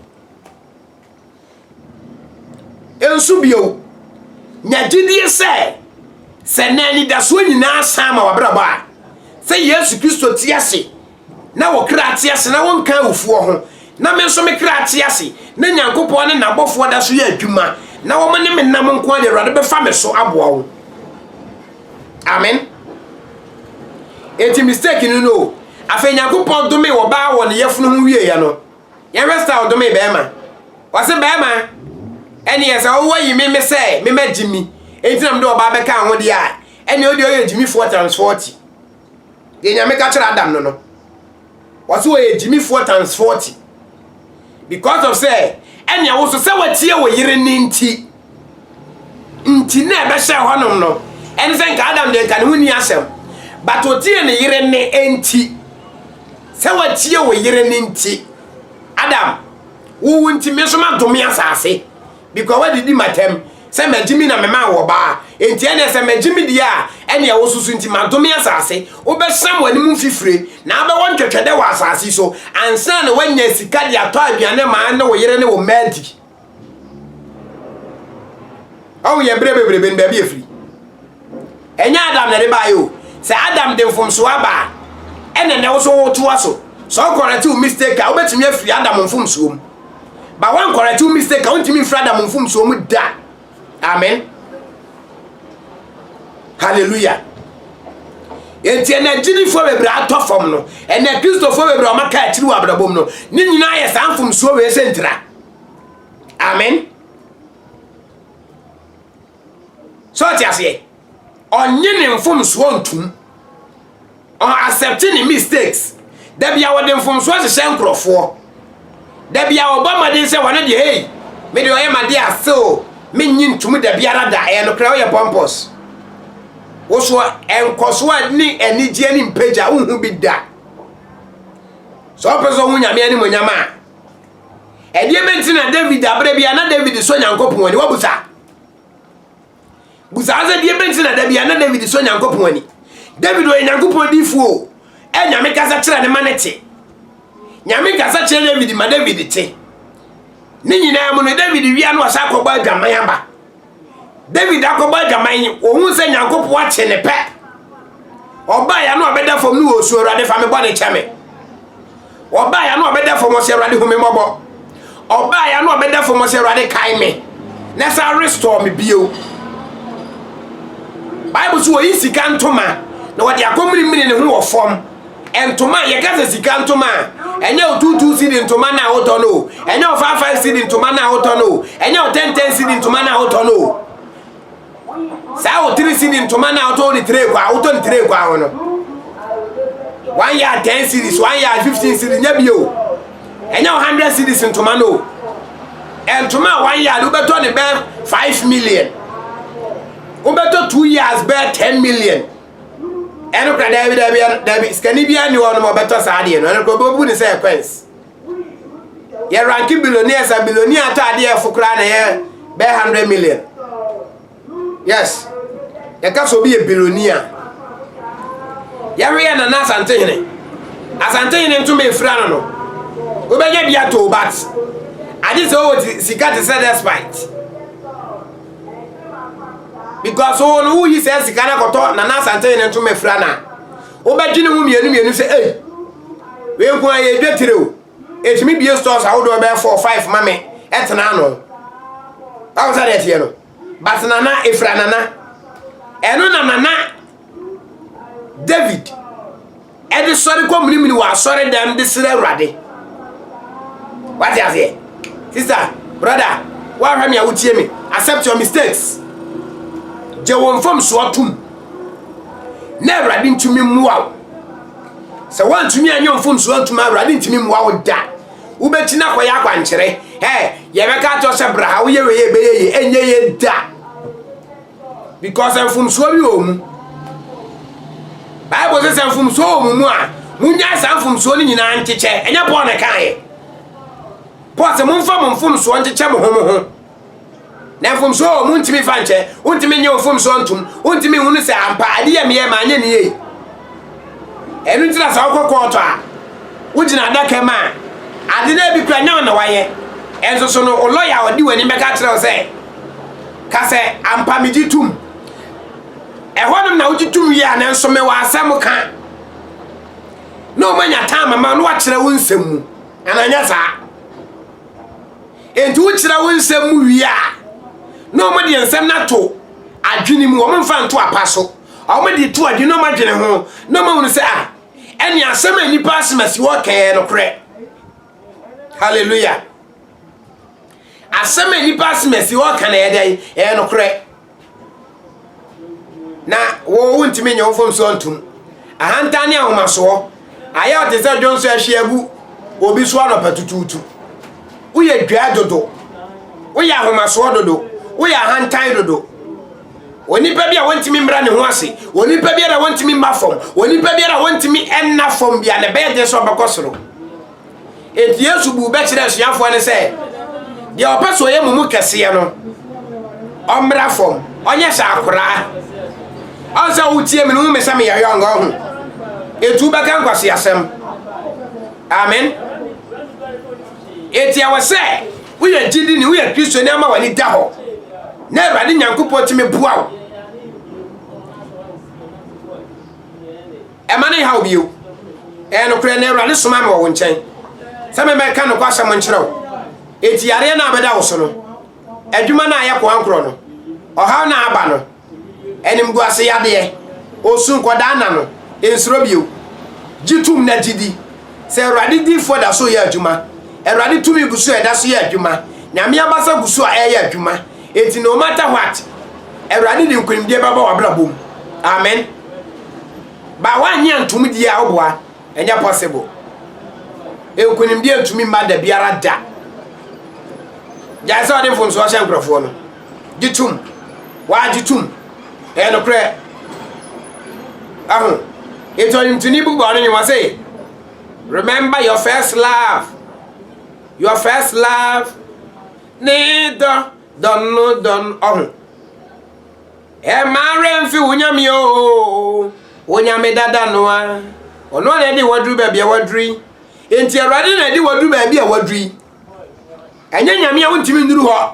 nso bio nya gyidie sɛ sɛ na anidasoɔ nyinaa san ma wabrabɔ a sɛ yesu kristo te ase Na wo kra te ase na wonka awufoɔ ho, na me nso me kra te ase, na Nyankopɔn ne n'abɔfoɔ da so yɛ adwuma, na wɔn ne me nam nko ara deɛ, Awurade bɛfa me so aboa wo. Amen. Enti mistake no no, afei Nyankopɔn dome wɔ baa wɔ ne yɛfunu ho wieɛ no, yɛhwɛ sɛ ɔdome bɛrima. Ɔse bɛrima, ɛneɛ sɛ wowɔ yi me me sɛ me ma gyimi, enti na mede ɔbaa bɛka ho deɛ a, ɛneɛ ɔdeɛ ɔyɛ gyimifoɔ times 40. Deɛ Nyame ka kyerɛ Adam no no, ɔse ɔyɛ gyimifoɔ times 40 because of sɛ ɛnea wo so sɛ watie wo yere ne nti nti na ɛbɛhyɛ hɔnom no ɛne sɛ nka Adam deɛ nka ne ho ni asɛm but ɔtie ne yere ne nti sɛ watie wo yere ne nti Adam wowu nti me so madome asase because wadidi m'atɛm sɛ magye mi na memaa wɔ baa enti ɛneɛ sɛ magye me deɛ a ɛneɛ wo soso nti madome asase wobɛsam w'anim mfifire na abɛwɔ ntwɛtwɛdɛ wɔ asase so ansa na woanya sika de atɔ aduane ma ne wo yere ne wo mmaa di ɔho yɛ berɛ bebrebe no baabi ɛfiri Ɛnyɛ Adam na ɛde baeɛ o. Sɛ Adam de mfomsoɔ aba a, ɛna ɛnɛ wo nso wotoa so. Sɛ ɔkɔrɛte wo mistake a, wobɛtumi afiri Adam mfomsoɔ mu. Ba wankɔrɛte wo mistake a, wontumi mfiri Adam mfomsoɔ mu da. Amen. Hallelujah. Enti ɛna agyidifoɔ bebree atɔ fam no, ɛna Kristofoɔ bebree ɔma ka akyiri wɔ abrabom no, ne nyinaa yɛ saa mfomsoɔ wei sɛ ntira. Amen. So ɔte aseɛ? Ɔnye ne mfomsoɔ ntom. Ɔn accept ne mistakes. Da bia wɔde mfomsoɔ hyehyɛ nkorɔfoɔ. Da bia wɔbɔ mmɔden sɛ wɔne deɛ hei, me deɛ ɔyɛ m'adeɛ ase o, mennye ntom da biara da, ɛyɛ nokorɛ woyɛ pompous. Wo so nkɔsoɔ ne anigyeɛ ne mpagya wonhu bi da. Sɛ ɔpɛ sɛ ɔhu Nyame animonyam a, ɛdeɛ bɛnti na David aberɛ bia na David sɔ Nyankopɔn ani, wabusa? busaa sɛ deɛ bɛnti na da bia na david sɔ nyankopɔn ani david ɔyɛ nyankopɔn difoɔ o ɛ nyame kasa kyerɛ ne ma ne te nyame kasa kyerɛ david ma david te ne nyinaa mu no david wia no ɔsɛ akɔbɔ adwaman aba david akɔbɔ adwaman yi ɔhu sɛ nyankopɔn akye ne pɛ ɔbaa ya no ɔbɛda fam no wɔ osuo awurade fa me bɔ ne kyɛ me Ɔbaa ya no ɔbɛda fam ɔsɛ Awurade hu me mmɔbɔ. Ɔbaa ya no ɔbɛda fam ɔsɛ Awurade kae me na san restore me bio. Bible so wɔyi sika ntoma na wɔde akɔmirimiri ne ho wɔ fam. Ntoma yɛka sɛ sika ntoma a ɛnyɛ wo tuutuu si di ntoma no a wotɔ no o ɛnyɛ wo faafaa si di ntoma no a wotɔ no o ɛnyɛ wo tɛntɛn si di ntoma no a wotɔ no o. saa wo tiri sini ntoma na wotɔ ne tire kwa wotɔ ne tire kwa ho no one yard ten series one yard fifteen series nyɛ bio ɛnyɛ wo hundred series ntoma no ntoma a one yard wobɛtɔ ne bɛɛ five million wobɛtɔ two years bɛɛ ten million ɛno kora daabi daabi daabi sikani biara ne hɔ no ma ɔbɛtɔ saa adeɛ no ɛno kora ɔbɛbu ne sɛ ɛkwɛns yɛ ranke billionaires a billionaire atɔ adeɛ ɛfo koraa na ɛyɛ bɛyɛ hundred million yes yɛka sɛ obi yɛ billionaire yɛhwɛ yɛ nana asantehene asantehene nso ma efira no no wobɛnya bi ato bat agye sɛ ɔwɔ sika te sɛ despite because wo no woyi sɛ sika no akɔtɔ nana asantehene nso ma efira no a Wobɛdwene ho mmienu mmienu sɛ, ei, wei nko ara yɛ dwetire o, ɛtumi bie stores ahodoɔ bɛyɛ four five ma me ɛtena ano. Báwo sɛ deɛ teɛ no? But nana efira nana. Ɛno na nana David ɛde sɔre kɔ minimini wɔ asɔre dɛm de srɛ awurade. Wate aseɛ? Sister, brother, woahwɛ me a wotie me. Accept your mistakes. Gye wo mfomsoɔ tom. na awurade ntumi mmoa wo sɛ woantumi anyɛ mfomsoɔ antuma awurade ntumi mmoa wo da wobɛkyi no akɔyɛ akwankyerɛ ɛ yɛbɛka atɔ sɛ bra ha woyɛ wei ɛbɛyɛ yɛ ɛnyɛ yɛ da because mfomsoɔ bi wɔ mu bible sɛ sɛ mfomsoɔ wɔ mu mu a monyae saa mfomsoɔ no nyinaa nkyekyɛ ɛnyɛ paul na ɛkaeɛ paul sɛ momfa mo mfomsoɔ nkyekyɛ mo ho mo ho Na mfomsoɔ wɔ hɔ, montumi mfa nkyɛ. Wontumi nye wo mfomsoɔ ntom. Wontumi nhunu sɛ ampa ade yɛ meyɛe ma anyɛ ne yie. Ɛno nti na sɛ wokɔ kɔɔto a, wogyina adaka mu a, ade no ebi kura nyɛ wo na wayɛ. Ɛnso so no, wo lɔya a ɔde w'anim bɛka akyerɛ wo sɛ, ka sɛ ampa megye tom. Ɛhɔnom na wogye tom wie a, nanso mewɔ asɛm ka. Na wɔanya tam ama wo na wɔakyerɛ wo nsɛm mu. Anaa nyɛ saa? Enti wokyerɛ wo nsɛm mu wie a, na wɔn deɛ nsɛm no ato adwene mu, wɔn mfa nto apa so. Wɔn de to adwene na wɔn adwene ho na wɔn ahunu sɛ ah, ɛne asɛm a nipa asɛm asi hɔ kɛɛ no korɛ. Hallelujah. Asɛm a nipa asɛm asi hɔ ka na ɛyɛ dɛn? Ɛyɛ no korɛ. na wo wontumi nyɛ wo mfomsoɔ ntom ahantan ne ahomasoɔ ayɛ ɔte sɛ dwonso ahwe agu obi so anɔpa tutuutu woyɛ dwaa dodo woyɛ ahomasoɔ dodo woyɛ ahantan dodo onipa bi a wɔntumi mmra ne ho ase onipa biara a wɔntumi mma fam onipa biara a wɔntumi ɛnna fam bi a na ɛbɛyɛ deɛ sɛ ɔbɛkɔ soro Enti Yesu buu bɛ kyerɛɛ asuafoɔ no sɛ, Deɛ ɔpɛ sɛ ɔyɛ mo mu kɛseɛ no, ɔmmra fam, ɔnyɛ sɛ akoraa. Ɔn sɛ wotie me no, wohu me sɛ meyɛ yɔng, ɔho. Enti wobɛka nkwaseasɛm. Amen. Enti ɛwɔ sɛ woyɛ gyidi ni, woyɛ Kristoni ama w'ani da hɔ. Na Awurade Nyankopɔn tumi boa wo. Mma no nnhaw wo bio. Ɛyɛ nokorɛ, na Awurade somaa me wɔ wo nkyɛn sɛ memmɛka nokwasɛm nkyerɛ wo. Enti yareɛ no a abɛda wo so no, adwuma no a ayɛ koankorɔ no, ɔhaw no a aba no, animguase yadeɛ, osu, nkwadaa nna no, nsuro bio. Gye tom na gye di sɛ Awurade difoɔ da so reyɛ adwuma. Awurade tumi gu so a ɛda so yɛ adwuma. Nyame abasa gu so a ɛreyɛ adwuma. Enti no matter what, Awurade de nkonimdie bɛba w'abrabɔ mu. Amen. Ba woannye antom die a woboa, ɛnyɛ possible. Nkonimdie ntumi mma da biara da. Gyae sɛ ɔde mfomsoɔ hyɛ nkorɔfoɔ no. Gye tom. Wagye tom. Ɛyɛ nokorɛ. Aho. Enti ɔnimtoni bu bɔne ne wɔ se, remember your first love. Your first love. Ne dɔ dɔn no dɔn ɔho. Ɛmma werɛ mfi wo Nyame o, wo Nyame dada no a, ɔno na ɛde waduru baabi a waduru yi. Enti Awurade na ɛde waduru baabi a waduru yi. Ɛnyɛ Nyame a wontumi nnuru hɔ.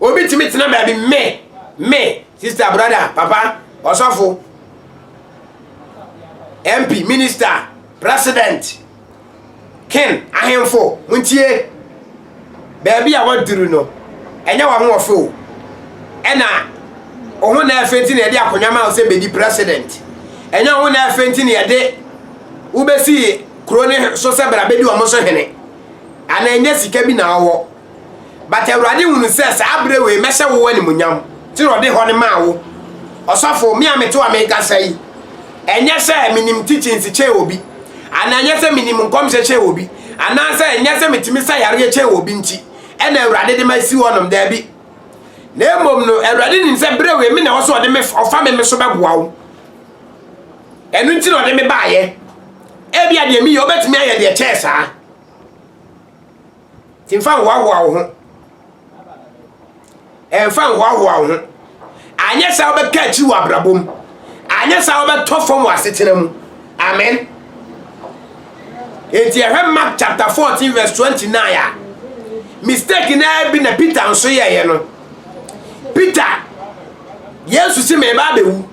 Obi tumi tena baabi me, me, sista, brɔda, papa, ɔsɔfo, MP, minista, president, king, ahemfo, montie. Baabi a waduru no, ɛnyɛ w'ahoɔfɛ o. Ɛna ɔho na ɛfɛ nti na yɛde akonnwa ma wo sɛ bɛdi president. Ɛnyɛ ɔho na ɛfɛ nti na yɛde wobɛsi kuro ne so sɛ bra bɛdi wɔn so hene. Anaa ɛnyɛ sika bi na ɔwɔ. But Awurade hunu sɛ saa berɛ wei mɛhyɛ wo animuonyam, nti na ɔde hɔ no maa wo. Ɔsɔfo, me a mete hɔ a merekasa yi, ɛnyɛ sɛ menim teachings kyɛn obi, anaa ɛnyɛ sɛ menim nkɔmhyɛ kyɛn obi, anaasɛ ɛnyɛ sɛ metumi sa yareɛ kyɛn obi nti ɛna Awurade de masi hɔnom, daabi. Na mmom no, Awurade nim sɛ berɛ wei me na ɛwɔ sɛ ɔde me ɔfa me me so bɛboa wo. Ɛno nti na ɔde me baeɛ. Ebia deɛ meyɛ wobɛtumi ayɛ deɛ kyɛɛ saa. Nti mfa nhoahoa wo ho. Ɛmfa nhoahoa wo ho. Anyɛ saa wobɛka akyiri wɔ abrabɔ mu. Anyɛ saa wobɛtɔ fam wɔ asetena mu. Amen. Nti ɛhwɛ Mark chapter 14 verse 29 a mistake naa bi na Peter nso yɛeɛ no. Peter, Yesu se meba abɛwu.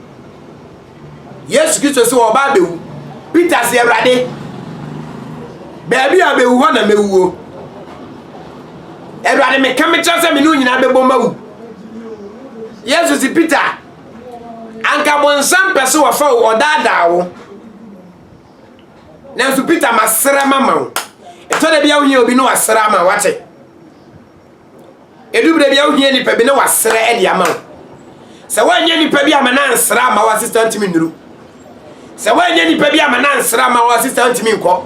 Yesu Kristo se ɔba abɛwu. Peter se, Awurade, baabi a ɔbɛwu hɔ na mɛwuo. Awurade, meka mekyerɛ sɛ me ne wo nyinaa bɛbɔ mawu. Yesu se, Peter, anka bonsam pɛ sɛ wɔfa wo, ɔdaadaa wo. Nanso Peter, masrɛ mama wo. Ɛtɔ da bi a wohia obi na wasrɛ ama wate. Edu bere bi a wohia nipa bi na wasrɛ de ama wo. Sɛ woanyɛ nipa bi ama no ansra ama wo asista ntumi nnuru. Sɛ woanyɛ nipa bi ama no ansra ama wo asista ntumi nkɔ.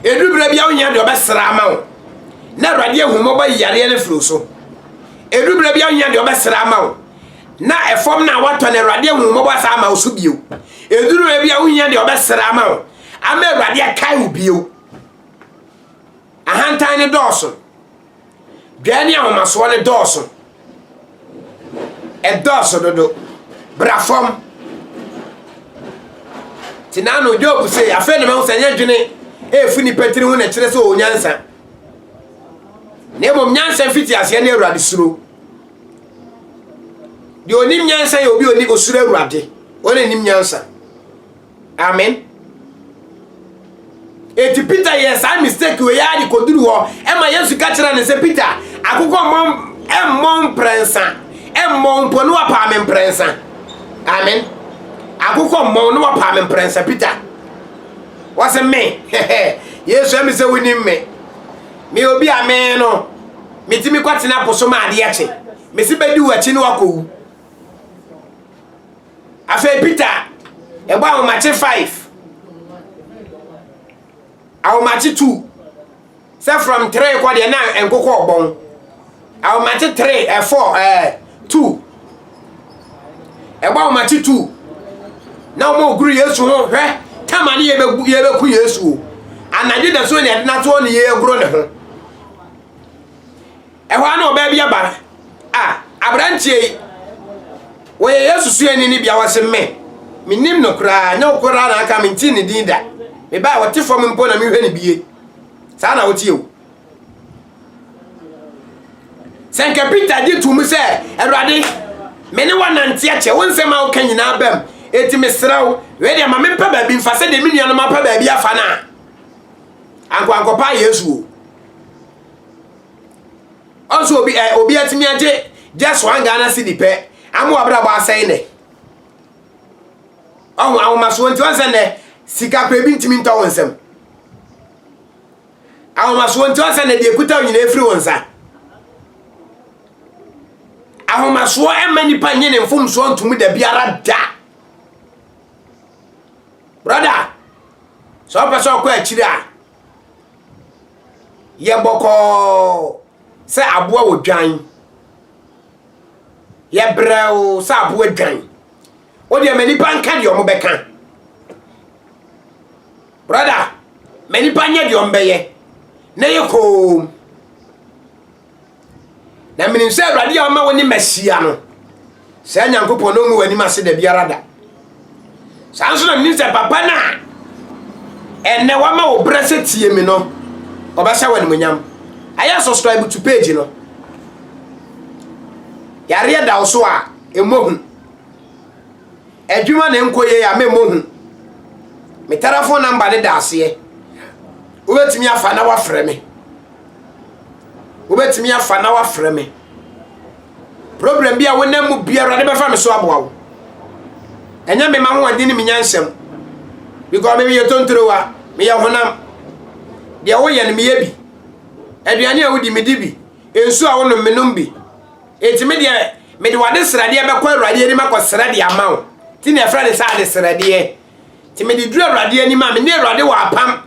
Edu bere bi a wohia deɛ ɔbɛsra ama wo na awurade ahummɔbɔ yi yareɛ no firi so. Edu bere bi a wohia deɛ ɔbɛsra ama wo na ɛfam na watɔ na awurade ahummɔbɔ asa ama wo so bio. Eduru bere bi a wohia deɛ ɔbɛsra ama wo ama awurade akae wo bio. Ahantan no dɔɔso. Dwɛɛ ne ahomasoɔ no dɔɔso. Ɛdɔɔso dodo. Bra fam. Nti na ano Job se, afei na mahu sɛ nyɛ dwene ɛrefi nipa tiri ho na ɛkyerɛ sɛ ɔwɔ nyansa. Na mmom nyansa mfiti aseɛ ne Awurade suro. Deɛ ɔnim nyansa yɛ obi ɔni osuro Awurade. Ɔna nim nyansa. amen eti peter yɛ saa mistake wei ara de kɔduru hɔ ɛma yesu ka kyerɛ ne sɛ peter akokɔ mmɔ mmɔ mprɛnsa mmɔ mpo ne wapaa me mprɛnsa amen akokɔ mmɔ ne wapaa me mprɛnsa peter wɔse me yesu ɛmi sɛ wonim me me obi a me no metumi kɔtena po so ma adeɛ kye mesi bɛdi w'akyi ne wakɔwu Afei Peter bɔ ahomakye five, ahomakye two, sɛ from three kɔ deɛ na nkokɔ ɔbɔn, ahomakye three ɛ four ɛ two, ɛbɔ ahomakye two na wɔn guru Yesu ho hwɛ tama ne yɛbɛku Yesu o, anadwo da so na yɛde n'atoɔ ne yɛagoro ne ho. Ɛhɔ ara na ɔbaa bi aba a aberanteɛ yi wɔyɛ Yesu suani no bia wɔse me menim no koraa nyɛ wo koraa na aka mentee ne din da mebaa a ɔte fam mpo na mehwɛ ne bie saa na woteɛ o sɛ nka Peter gye to mu sɛ awurade me ne wanante akyɛ wo nsɛm a woka nyinaa bam eti mesrɛ wo wei deɛ ma mempɛ baabi mfa sɛ deɛ me nuanom apɛ baabi afa no a ankoankɔpa Yesu o Ɔnso obi ɛ obi atumi agye just one Ghana cedi pɛ ama wabrabɔ asɛe nɛ. Ɔho ahomasoɔ nti ɔnsɛ nɛ sika kura ebi ntumi ntɔ wo nsam. Ahomasoɔ nti ɔnsɛ nɛ deɛ ekuta wo nyinaa efiri wo nsa. Ahomasoɔ ɛmma nipa nye ne mfomsoɔ ntomu da biara da. Brother, sɛ ɔpɛ sɛ ɔkɔ akyiri a. yɛ bɔkɔɔ sɛ aboa wɔ dwan, yɛ brɛoo sɛ aboa dwan. Wo deɛ ma nnipa nka deɛ wɔbɛka. Brɔda, ma nnipa nyɛ deɛ wɔbɛyɛ na yɛ koom. Na menim sɛ Awurade a ɔma wo ne Masia no, saa Nyankopɔn na ɔngu w'anim ase da biara da. Saa nso na menim sɛ papa no a ɛnɛ wama wo berɛ sɛ tie me no, ɔbɛhyɛ wo animonyam. Ayɛ subscribe to page no. Yareɛ da wo so a, ɛmmɔ hu. Adwuma na ɛnkɔ yie a, memmɔ hu. Me telefon namba no da aseɛ. Wobɛtumi afa na wafrɛ me. wobɛtumi afa na wafrɛ me problem bi a wonam mu biara ne bɛfa me so aboa wo ɛnyɛ me ma hoɔden ne menya nsɛm because me meyɛ tontrowa meyɛ honam deɛ woyɛ no meyɛ bi aduane a wodi medi bi nsu a wonom menom bi enti me deɛ mede wade sradeɛ bɛkɔ awurade anim akɔsrɛ de ama wo nti na ɛfrɛ ne sɛ ade sradeɛ Nti mede duru Awurade anim a, me ne Awurade wɔ apam,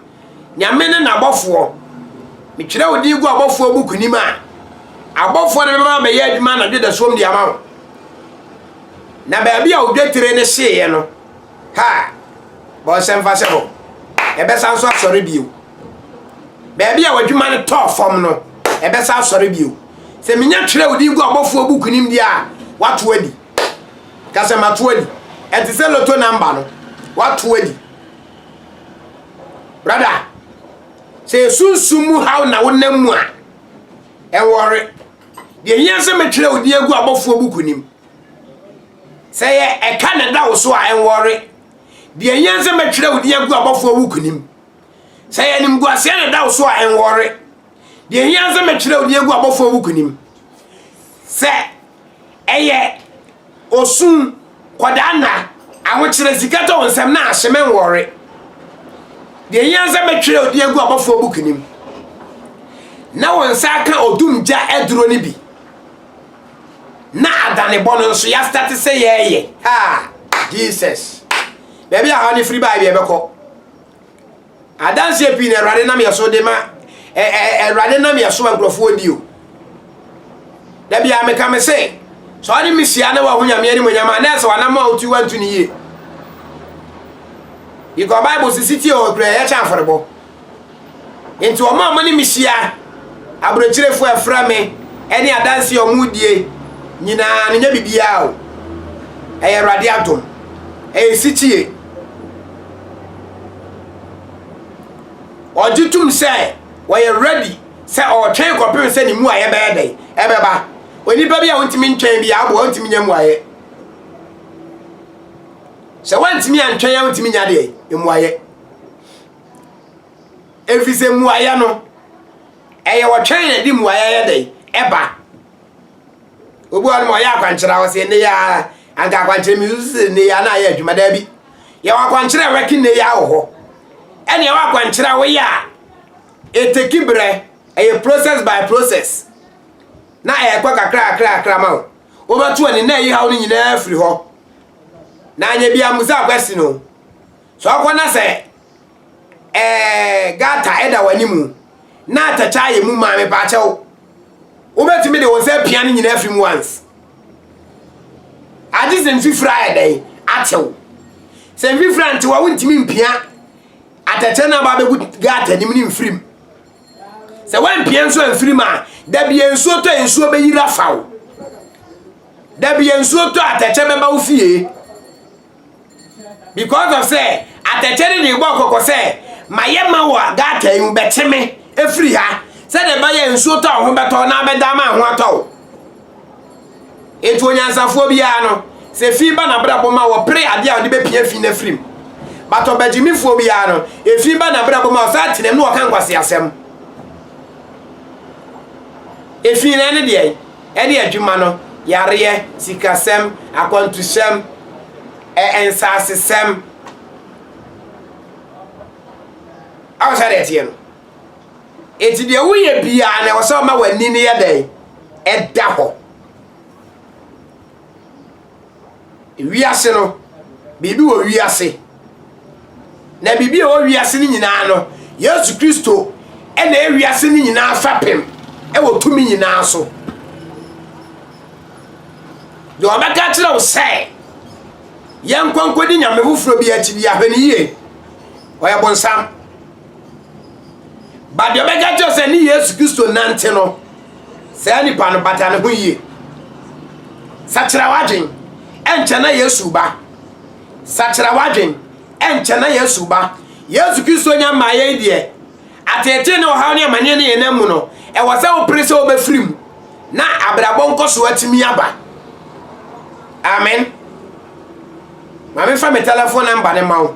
Nyame ne n'abɔfoɔ. Metwerɛ wo din gu abɔfoɔ buku nim a, abɔfoɔ no bɛma abɛyɛ adwuma anadwo da suom de ama wo. Na baabi a odwetire no hyeeɛ no, ha, bɔ nsɛmfa sɛ hɔ, ɛbɛsa nso asɔre bio. Baabi a w'adwuma no tɔɔ fam no, ɛbɛsa asɔre bio. Sɛ menya twerɛ wo din gu abɔfoɔ buku nim deɛ a, wato adi. Ka sɛ, Mato adi. Ɛte sɛ loto namba no. Wato adi. Brada, sɛ esunsum mu haw na wonam mu a, ɛwɔre. Deɛ hia sɛ metwerɛ wo din agu abɔfoɔ buku nim. Sɛ yɛ ɛka na ɛda wo so a, ɛwɔre. Deɛ hia sɛ metwerɛ wo din agu abɔfoɔ buku nim. Sɛ yɛ animguaseɛ na ɛda wo so a, ɛwɔre. Deɛ ɛhia ara sɛ mɛtwerɛ Oniagu abɔfoɔ buku nim sɛ ɛyɛ osun kɔdaa nna ahokyerɛ sika tɔ nsɛm na ahye me nwɔre. Deɛ ɛhia ara sɛ mɛtwerɛ Oniagu abɔfoɔ buku nim na wɔn nsa aka odum gya aduro no bi na adanebɔ no nso yɛastate sɛ yɛreyɛ ha Jesus baabi a ha no firi baa bi ɛbɛkɔ Adanseɛ pii na Awurade nam yɛn so de ma ɛ ɛ Awurade nam yɛn so ma nkurɔfoɔ di o. Da biara meka me se, sɛ ɔne me hyia na wahu Nyame animonyam a, na ɛsɛ wanam a wotu wantu ne yie. Because Bible sisi tie hɔ kura yɛkyɛ afɔrebɔ. Nti wɔn a wɔn ne me hyia, aburokyerefo a ɛfra me, ɛne adanseɛ a wɔn die nyinaa no nyɛ biribiara o. Ɛyɛ Awurade adom. Ɛyɛ sitie. Ɔgye tom sɛ ɔyɛ ready sɛ ɔretwɛn kɔpem sɛ ne mmuaeɛ bɛyɛ dɛn? Ɛbɛba. Onipa bi a ontumi ntwɛn biara aboa ontumi nya mmuaeɛ. Sɛ wantumi antwɛn a ontumi nya deɛ mmuaeɛ. Efiri sɛ mmuaeɛ no ɛyɛ ɔtwɛn na ɛde mmuaeɛ yɛ dɛn? Ɛba. Obi wɔ hɔ no ma ɔyɛ akwankyerɛ a ɔsɛ nnɛ yi ara anka akwankyerɛ mi nso sɛ nnɛ yi ara na ayɛ adwuma daabi. Yɛwɔ akwankyerɛ a wɛki nnɛ yi ara wɔ hɔ. Ɛna ɛwɔ akwankyerɛ a woyɛ a ɛteki berɛ ɛyɛ process by process na ɛkɔ kakra kakra kakra ma wo. Wobɛto ani na ɛyi haw no nyinaa afiri hɔ. Na anyɛ bi ammusa question o. So akɔ na sɛ ɛɛ gata ɛda w'animu na atɛkyɛ ayɛ mu maa me paakyɛw wobɛtumi de wo nsa apia no nyinaa afiri mu once agye sɛ mfifiri ayɛ dɛn atew sɛ mfifiri antew a wontumi mpia atɛkyɛ no aba abɛgu gata anim ne mfirim sɛ woampia nso amfirim a dabiɛ nsuo tɔ nsuo bɛyira fa wo dabiɛ nsuo tɔ atɛkyɛ bɛba wo fie because of sɛ atɛkyɛ no de bɔɔ kɔkɔ sɛ mayɛ ma wɔ gata yi mu bɛkye me afiri ha sɛdeɛ ɛbɛyɛ nsuo tɔ ho bɛtɔ na abɛda ma ho atɔ wo ɛti onyansafoɔ biara no sɛ fi ba nabrabɔ ma wɔpere adeɛ a wɔde bɛpia fi no afiri mu but ɔbagyimifoɔ biara no ɛfi ba nabrabɔ ma ɔsa tenam ne wɔka nkwase asɛm ɛfi no ɛne deɛ ne adwuma no, yareɛ, sikasɛm, akwantusɛm, ɛ nsasesɛm. Awo sɛ deɛ ɛteɛ no. Enti deɛ woyɛ biara na ɛwɔ sɛ ɔma w'ani no yɛ dɛn? Ɛda hɔ. Wiase no, biribi wɔ wiase. Na biribi a ɛwɔ wiase no nyinaa no, Yesu Kristo na ɛyɛ wiase no nyinaa fapem wɔ tumi nyinaa so. Deɛ ɔbɛka kyerɛ wo sɛ yɛnkɔ nkɔdi nyame foforɔ bi akyi bi ahwɛ no yie ɔyɛ bonsam. But deɛ ɔbɛka kyerɛ sɛ ne Yesu Kristo nante no, saa nipa no bata ne ho yie. Sakyera w'adwen, ɛnkyɛ na Yesu ba. Sakyera w'adwen, ɛnkyɛ na Yesu ba. Yesu Kristo nya mmaa yɛn deɛ, ateetee ne ɔhaw ne amaneɛ ne yɛn mu no, ɛwɔ sɛ wopere sɛ wobɛfiri mu na abrabɔ nkɔso atumi aba. Amen. Maame fa me telephone number ne ma wo.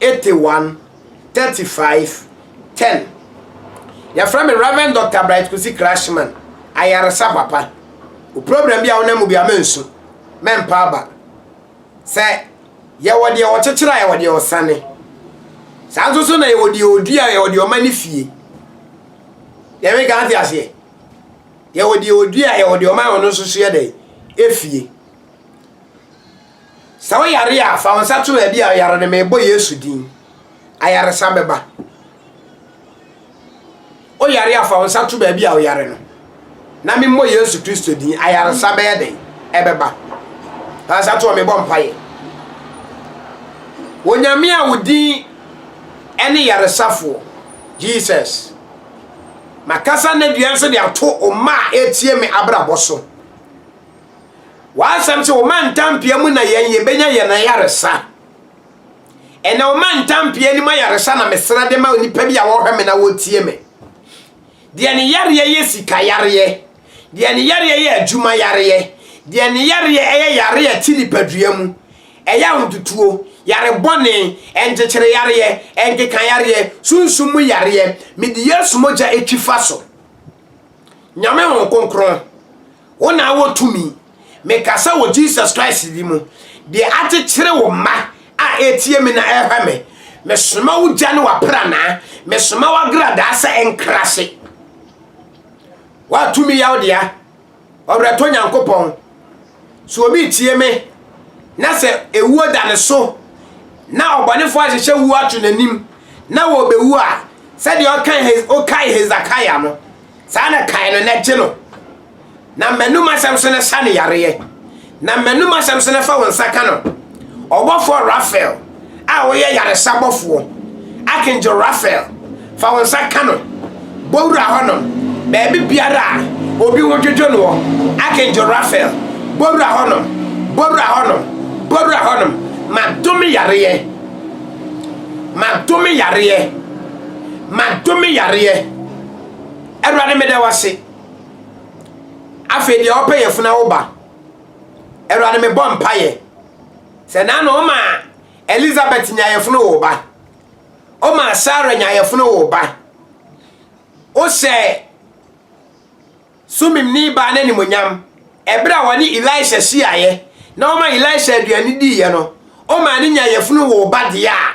81 35 10 Yɛfrɛ me Rev. Dɔkta Bright Kwesi Krashman, ayaresa papa. Wo program bi a wonam mu biara mansu, mampa aba. Sɛ yɛwɔ deɛ wɔkyekyere a yɛwɔ deɛ wɔsane. Saa nso so na yɛwɔ deɛ ɔdua a yɛwɔ deɛ ɔma ne fie. Deɛ me ka ate aseɛ. Yɛwɔ deɛ ɔdua a yɛwɔ deɛ ɔma ɔno nso so yɛ dɛ efie. Sɛ wo yare a, fa wo nsa to baabi a ɔyare no, mebɔ Yesu din. Ayaresa bɛba. Wo yare a, fa wo nsa to baabi a ɔyare no, na memmɔ Yesu Kristo din. Ayaresa bɛyɛ dɛn? Ɛbɛba. Fa nsa to hɔ, mebɔ mpaeɛ. Onyame a wo din ɛne yaresafoɔ, Jesus. Makasa n'aduan so de ato ɔma a ɛretie me abrabɔ so. W'asɛm sɛ wɔma ntampea mu na yɛn yɛbɛnya yɛn ayaresa. Ɛnna wɔma ntampea anim ayaresa na mesrɛ de ma nnipa bi a wɔhwɛ me na wɔtie me. Deɛ ne yareɛ yɛ sika yareɛ, deɛ ne yareɛ yɛ adwuma yareɛ, deɛ ne yareɛ ɛyɛ yareɛ a ɛte nipadua mu, ɛyɛ ahototuo, yare bɔne, ɛnkyekyere yareɛ, ɛnkeka yareɛ, sunsum mu yareɛ, mede Yesu mogya atwi fa so. Nyame hon kronkron wo na wɔ tumi mekasa wɔ Jesus Christ di mu deɛ akyekyere wo mma a ɛretie me na ɛrehwɛ me mesoma wo gya ne wapranaa mesoma wagradaa sɛ ɛnkrahye woatumi yaw dea Ɔwerɛtɔ Nyankopɔn, sɛ obi retie me, na sɛ ewuo da ne so, na ɔbɔnefoɔ ahyehyɛ wuo ato n'anim, na wɔbɛwu a, sɛdeɛ ɔkae ɔkae Hesakaia no, saa na kae no na gye no, na mmɛnum asɛm so na sa no yareɛ. Na m'anom asɛm sene fa wo nsa ka no. Ɔbɔfoɔ Raphael a woyɛ yaresa bɔfoɔ, Archangel Raphael, fa wo nsa ka no. Bɔ wura hɔnom, baabi biara a obi ho dwodwo noɔ, Archangel Raphael, bɔ wura hɔnom, bɔ wura hɔnom, bɔ wura hɔnom. Madome yareɛ, madome yareɛ, madome yareɛ. Awurade meda wo ase. Afei deɛ ɔpɛ yɛfu na woba. Awurade mebɔ mpaeɛ sɛ na na ɔma Elizabeth nya yɛfunu wo ba. Ɔma Sarah nya yɛfunu wo ba. Wohyɛ sumimni baa no animonyam ɛberɛ a wɔne Elisha hyiaeɛ na ɔma Elisha aduane diiɛ no. Ɔma ne nya yɛfunu wo ba deɛ a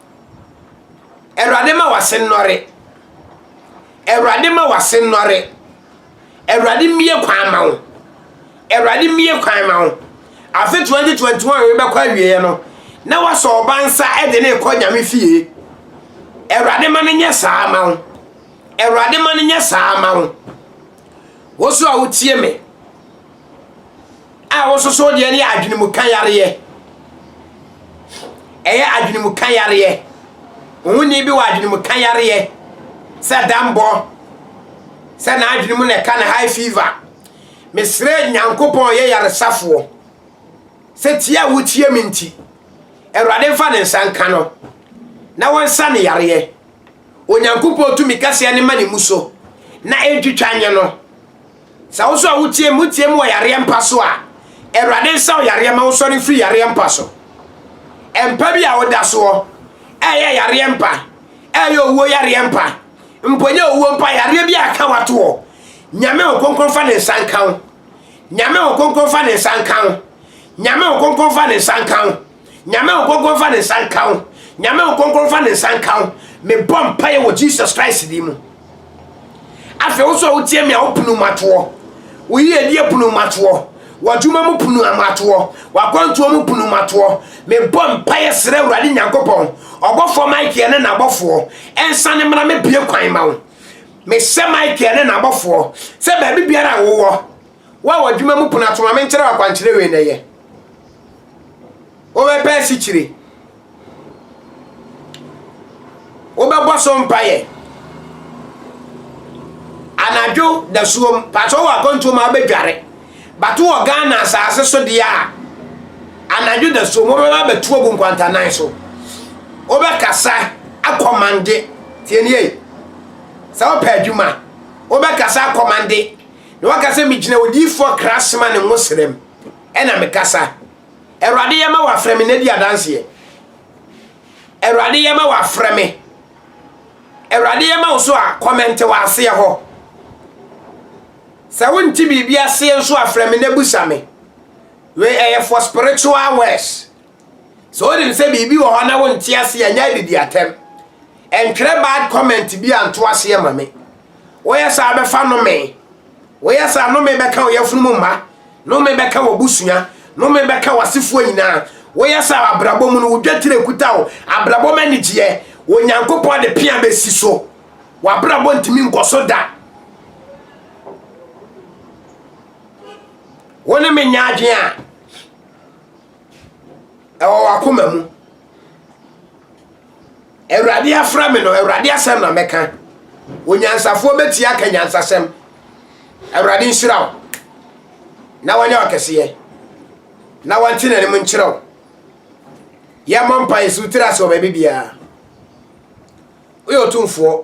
Awurade ma w'ase nnɔre. Awurade ma w'ase nnɔre. Awurade mmie kwan ma wo. Awurade mmie kwan ma wo. Afe 2021 rebɛkɔ awieɛ no, na wasɔ ɔba nsa de ne rekɔ nyame fie. Awurade ma no nyɛ saa ma wo. Awurade ma no nyɛ saa ma wo. Wo so a wotie me. a wososo deɛ no yɛ adwenemuka yareɛ. Ɛyɛ adwenemuka yareɛ. Ohoni bi wɔ adwenemuka yareɛ sɛ dambɔ, sɛ n'adwene mu na ɛka no high fever. Mesrɛ Nyankopɔn ɔyɛ yaresafoɔ sɛ tie a wotie me nti, Awurade mfa ne nsa nka no na wɔnsa ne yareɛ. Onyankopɔn tumi kɛseɛ no ma ne mu so na ɛntwitwa nyɛ no. Sɛ wo nso a wotie me, wotie me wɔ yareɛ mpa so a, Awurade nsa wo yareɛ ma wosɔre mfiri yareɛ mpa so. Mpa bi a woda soɔ, ɛyɛ yareɛ mpa, ɛyɛ owuo yareɛ mpa, mpo nyɛ owuo mpa, yareɛ bi a ɛka wato hɔ. Nyame ho kronkron fa ne nsa nka wo. Nyame ho kronkron fa ne nsa nka wo. Nyame ho kronkron fa ne nsa nka wo. Nyame nkonkron nfa ne nsa nka wo. Nyame nkonkron nfa ne nsa nka wo. Mebɔ mpaeɛ wɔ Jesus Christ din mu. Afei wo so a wotie me a wopunu matoɔ. Wo yiedie punu matoɔ. W'adwuma mu punu matoɔ. W'akwantuo mu punu matoɔ. Mebɔ mpaeɛ serɛ Awurade Nyankopɔn. Ɔbɔfoɔ Michael ne n'abɔfoɔ ɛnsa ne mmra mɛbue kwan ma wo. Mehyɛ Michael ne n'abɔfoɔ sɛ baabi biara a wowɔ Wo a w'adwuma mu pon ato ma menkyerɛ wo akwankyerɛ wei na yɛ. Wobɛpɛ asikyire. Wobɛbɔ so mpaeɛ. Anadwo dasuom, patro wɔ akwantuo ma wobɛdware. Bato wɔ Ghana asase so deɛ a, anadwo dasuom wobɛba bɛtu agu nkwantanan so. Wobɛkasa akɔmande. Tienie, sɛ wopɛ adwuma, wobɛkasa akɔmande. Na waka sɛ, Megyina odiyifoɔ Krasman ne ngosrɛm ɛna mekasa. Awurade yɛ ma wafrɛ me na di adanseɛ. Awurade yɛ ma wafrɛ me. Awurade yɛ ma wo so a kɔmɛnte wɔ aseɛ hɔ. Sɛ wonte biribi aseɛ nso a frɛ me na busa me. Wei ɛyɛ for spiritual words. Sɛ wonim sɛ biribi wɔ hɔ na wonte aseɛ a nyɛ adidi atɛm. Ɛntwerɛ bad comment bi anto aseɛ ma me. Woyɛ saa a, bɛfa nnome. Woyɛ saa a, nnome bɛka wo yafunum mma, nnome bɛka w'abusua, nnome bɛka w'asefoɔ nyinaa. Woyɛ saa a, abrabɔ mu no, wo dwetire kuta wo, abrabɔ mu anigyeɛ, Onyankopɔn de pea bɛsi so. W'abrabɔ ntumi nkɔ so da. Wo ne me nyɛ adwene a ɛwɔ w'akoma mu. Awurade afrɛ me no, Awurade asɛm na mɛka. Onyansafoɔ bɛtie aka nyansasɛm. Awurade nhyira wo na wanyɛ wakɛseɛ na wante n'anim nkyerɛ wo. Yɛmmɔ mpa yɛsi wotiri ase wɔ baabi biara. Woyɛ ɔtumfoɔ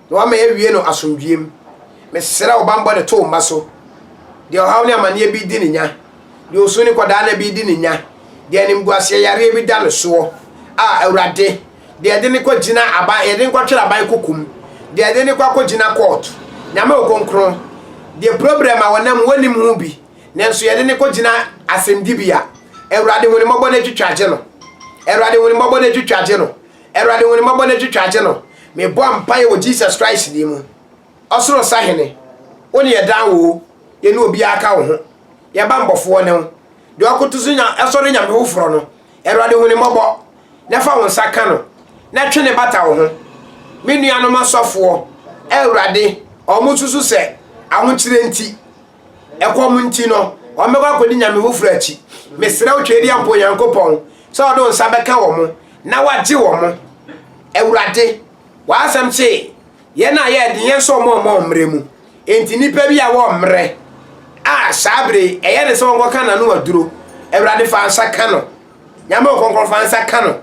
Na wama yɛawie no asomdwoeɛ mu. Mesrɛ wo bammɔ de to wo mma so. Deɛ ɔhaw ne amaneɛ bi redi no nya. Deɛ osu ne kɔdaa nna bi redi no nya. Deɛ animguaseɛ yareɛ bi da no soɔ. A Awurade, deɛ yɛde no kɔgyina aban, yɛde no kɔtwere aban kokom. Deɛ yɛde no kɔ akɔgyina kɔɔto. Nyame wo kronkron, deɛ problem a wɔnam mu wɔnnim ho bi, nanso yɛde no kɔgyina asɛmdibea. Awurade hu no mmɔbɔ na twitwa gye no. Awurade hu no mmɔbɔ na twitwa gye no. Awurade hu ne mmɔbɔ na twitwa agye no mebɔ mpaeɛ wɔ Jesus Christ din mu ɔsoro sahene wone yɛ daa woo yɛne obiara ka wo ho yɛ ba mbɔfoɔ ne wo deɛ ɔkoto so nya ɛsɔre nyame foforɔ no Awurade hu ne mmɔbɔ na fa wo nsa ka no na twe ne bata wo ho me nuanom asɔfoɔ Awurade ɔmo susu sɛ ahokyerɛ nti Ɛkɔm nti no, wɔbɛkɔ akɔdi nyame foforɔ akyi. Mesrɛ wo Tweaduampɔ Onyankopɔn sɛ ɔde wo nsa bɛka wɔn na wagye wɔn. Awurade, w'asɛm se yɛn a yɛyɛ den yɛn nso wɔn mma wɔmmrɛ mu. Enti nnipa bi a wɔmmrɛ a saa bere yi ɛyɛ ne sɛ wɔnkɔka n'ano aduro. Awurade fa nsa ka no. Nyame o kronkron fa nsa ka no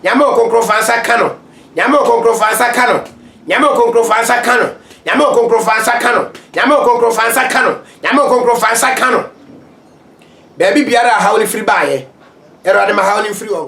Nyame o kronkron fa nsa ka no Nyame o kronkron fa nsa ka no Nyame o kronkron fa nsa ka no Nyame o kronkron fa nsa ka no Nyame o kronkron fa nsa ka no Nyame o kronkron fa nsa ka no baabi biara a haw no firi baayɛ Awurade ma haw no mfiri hɔ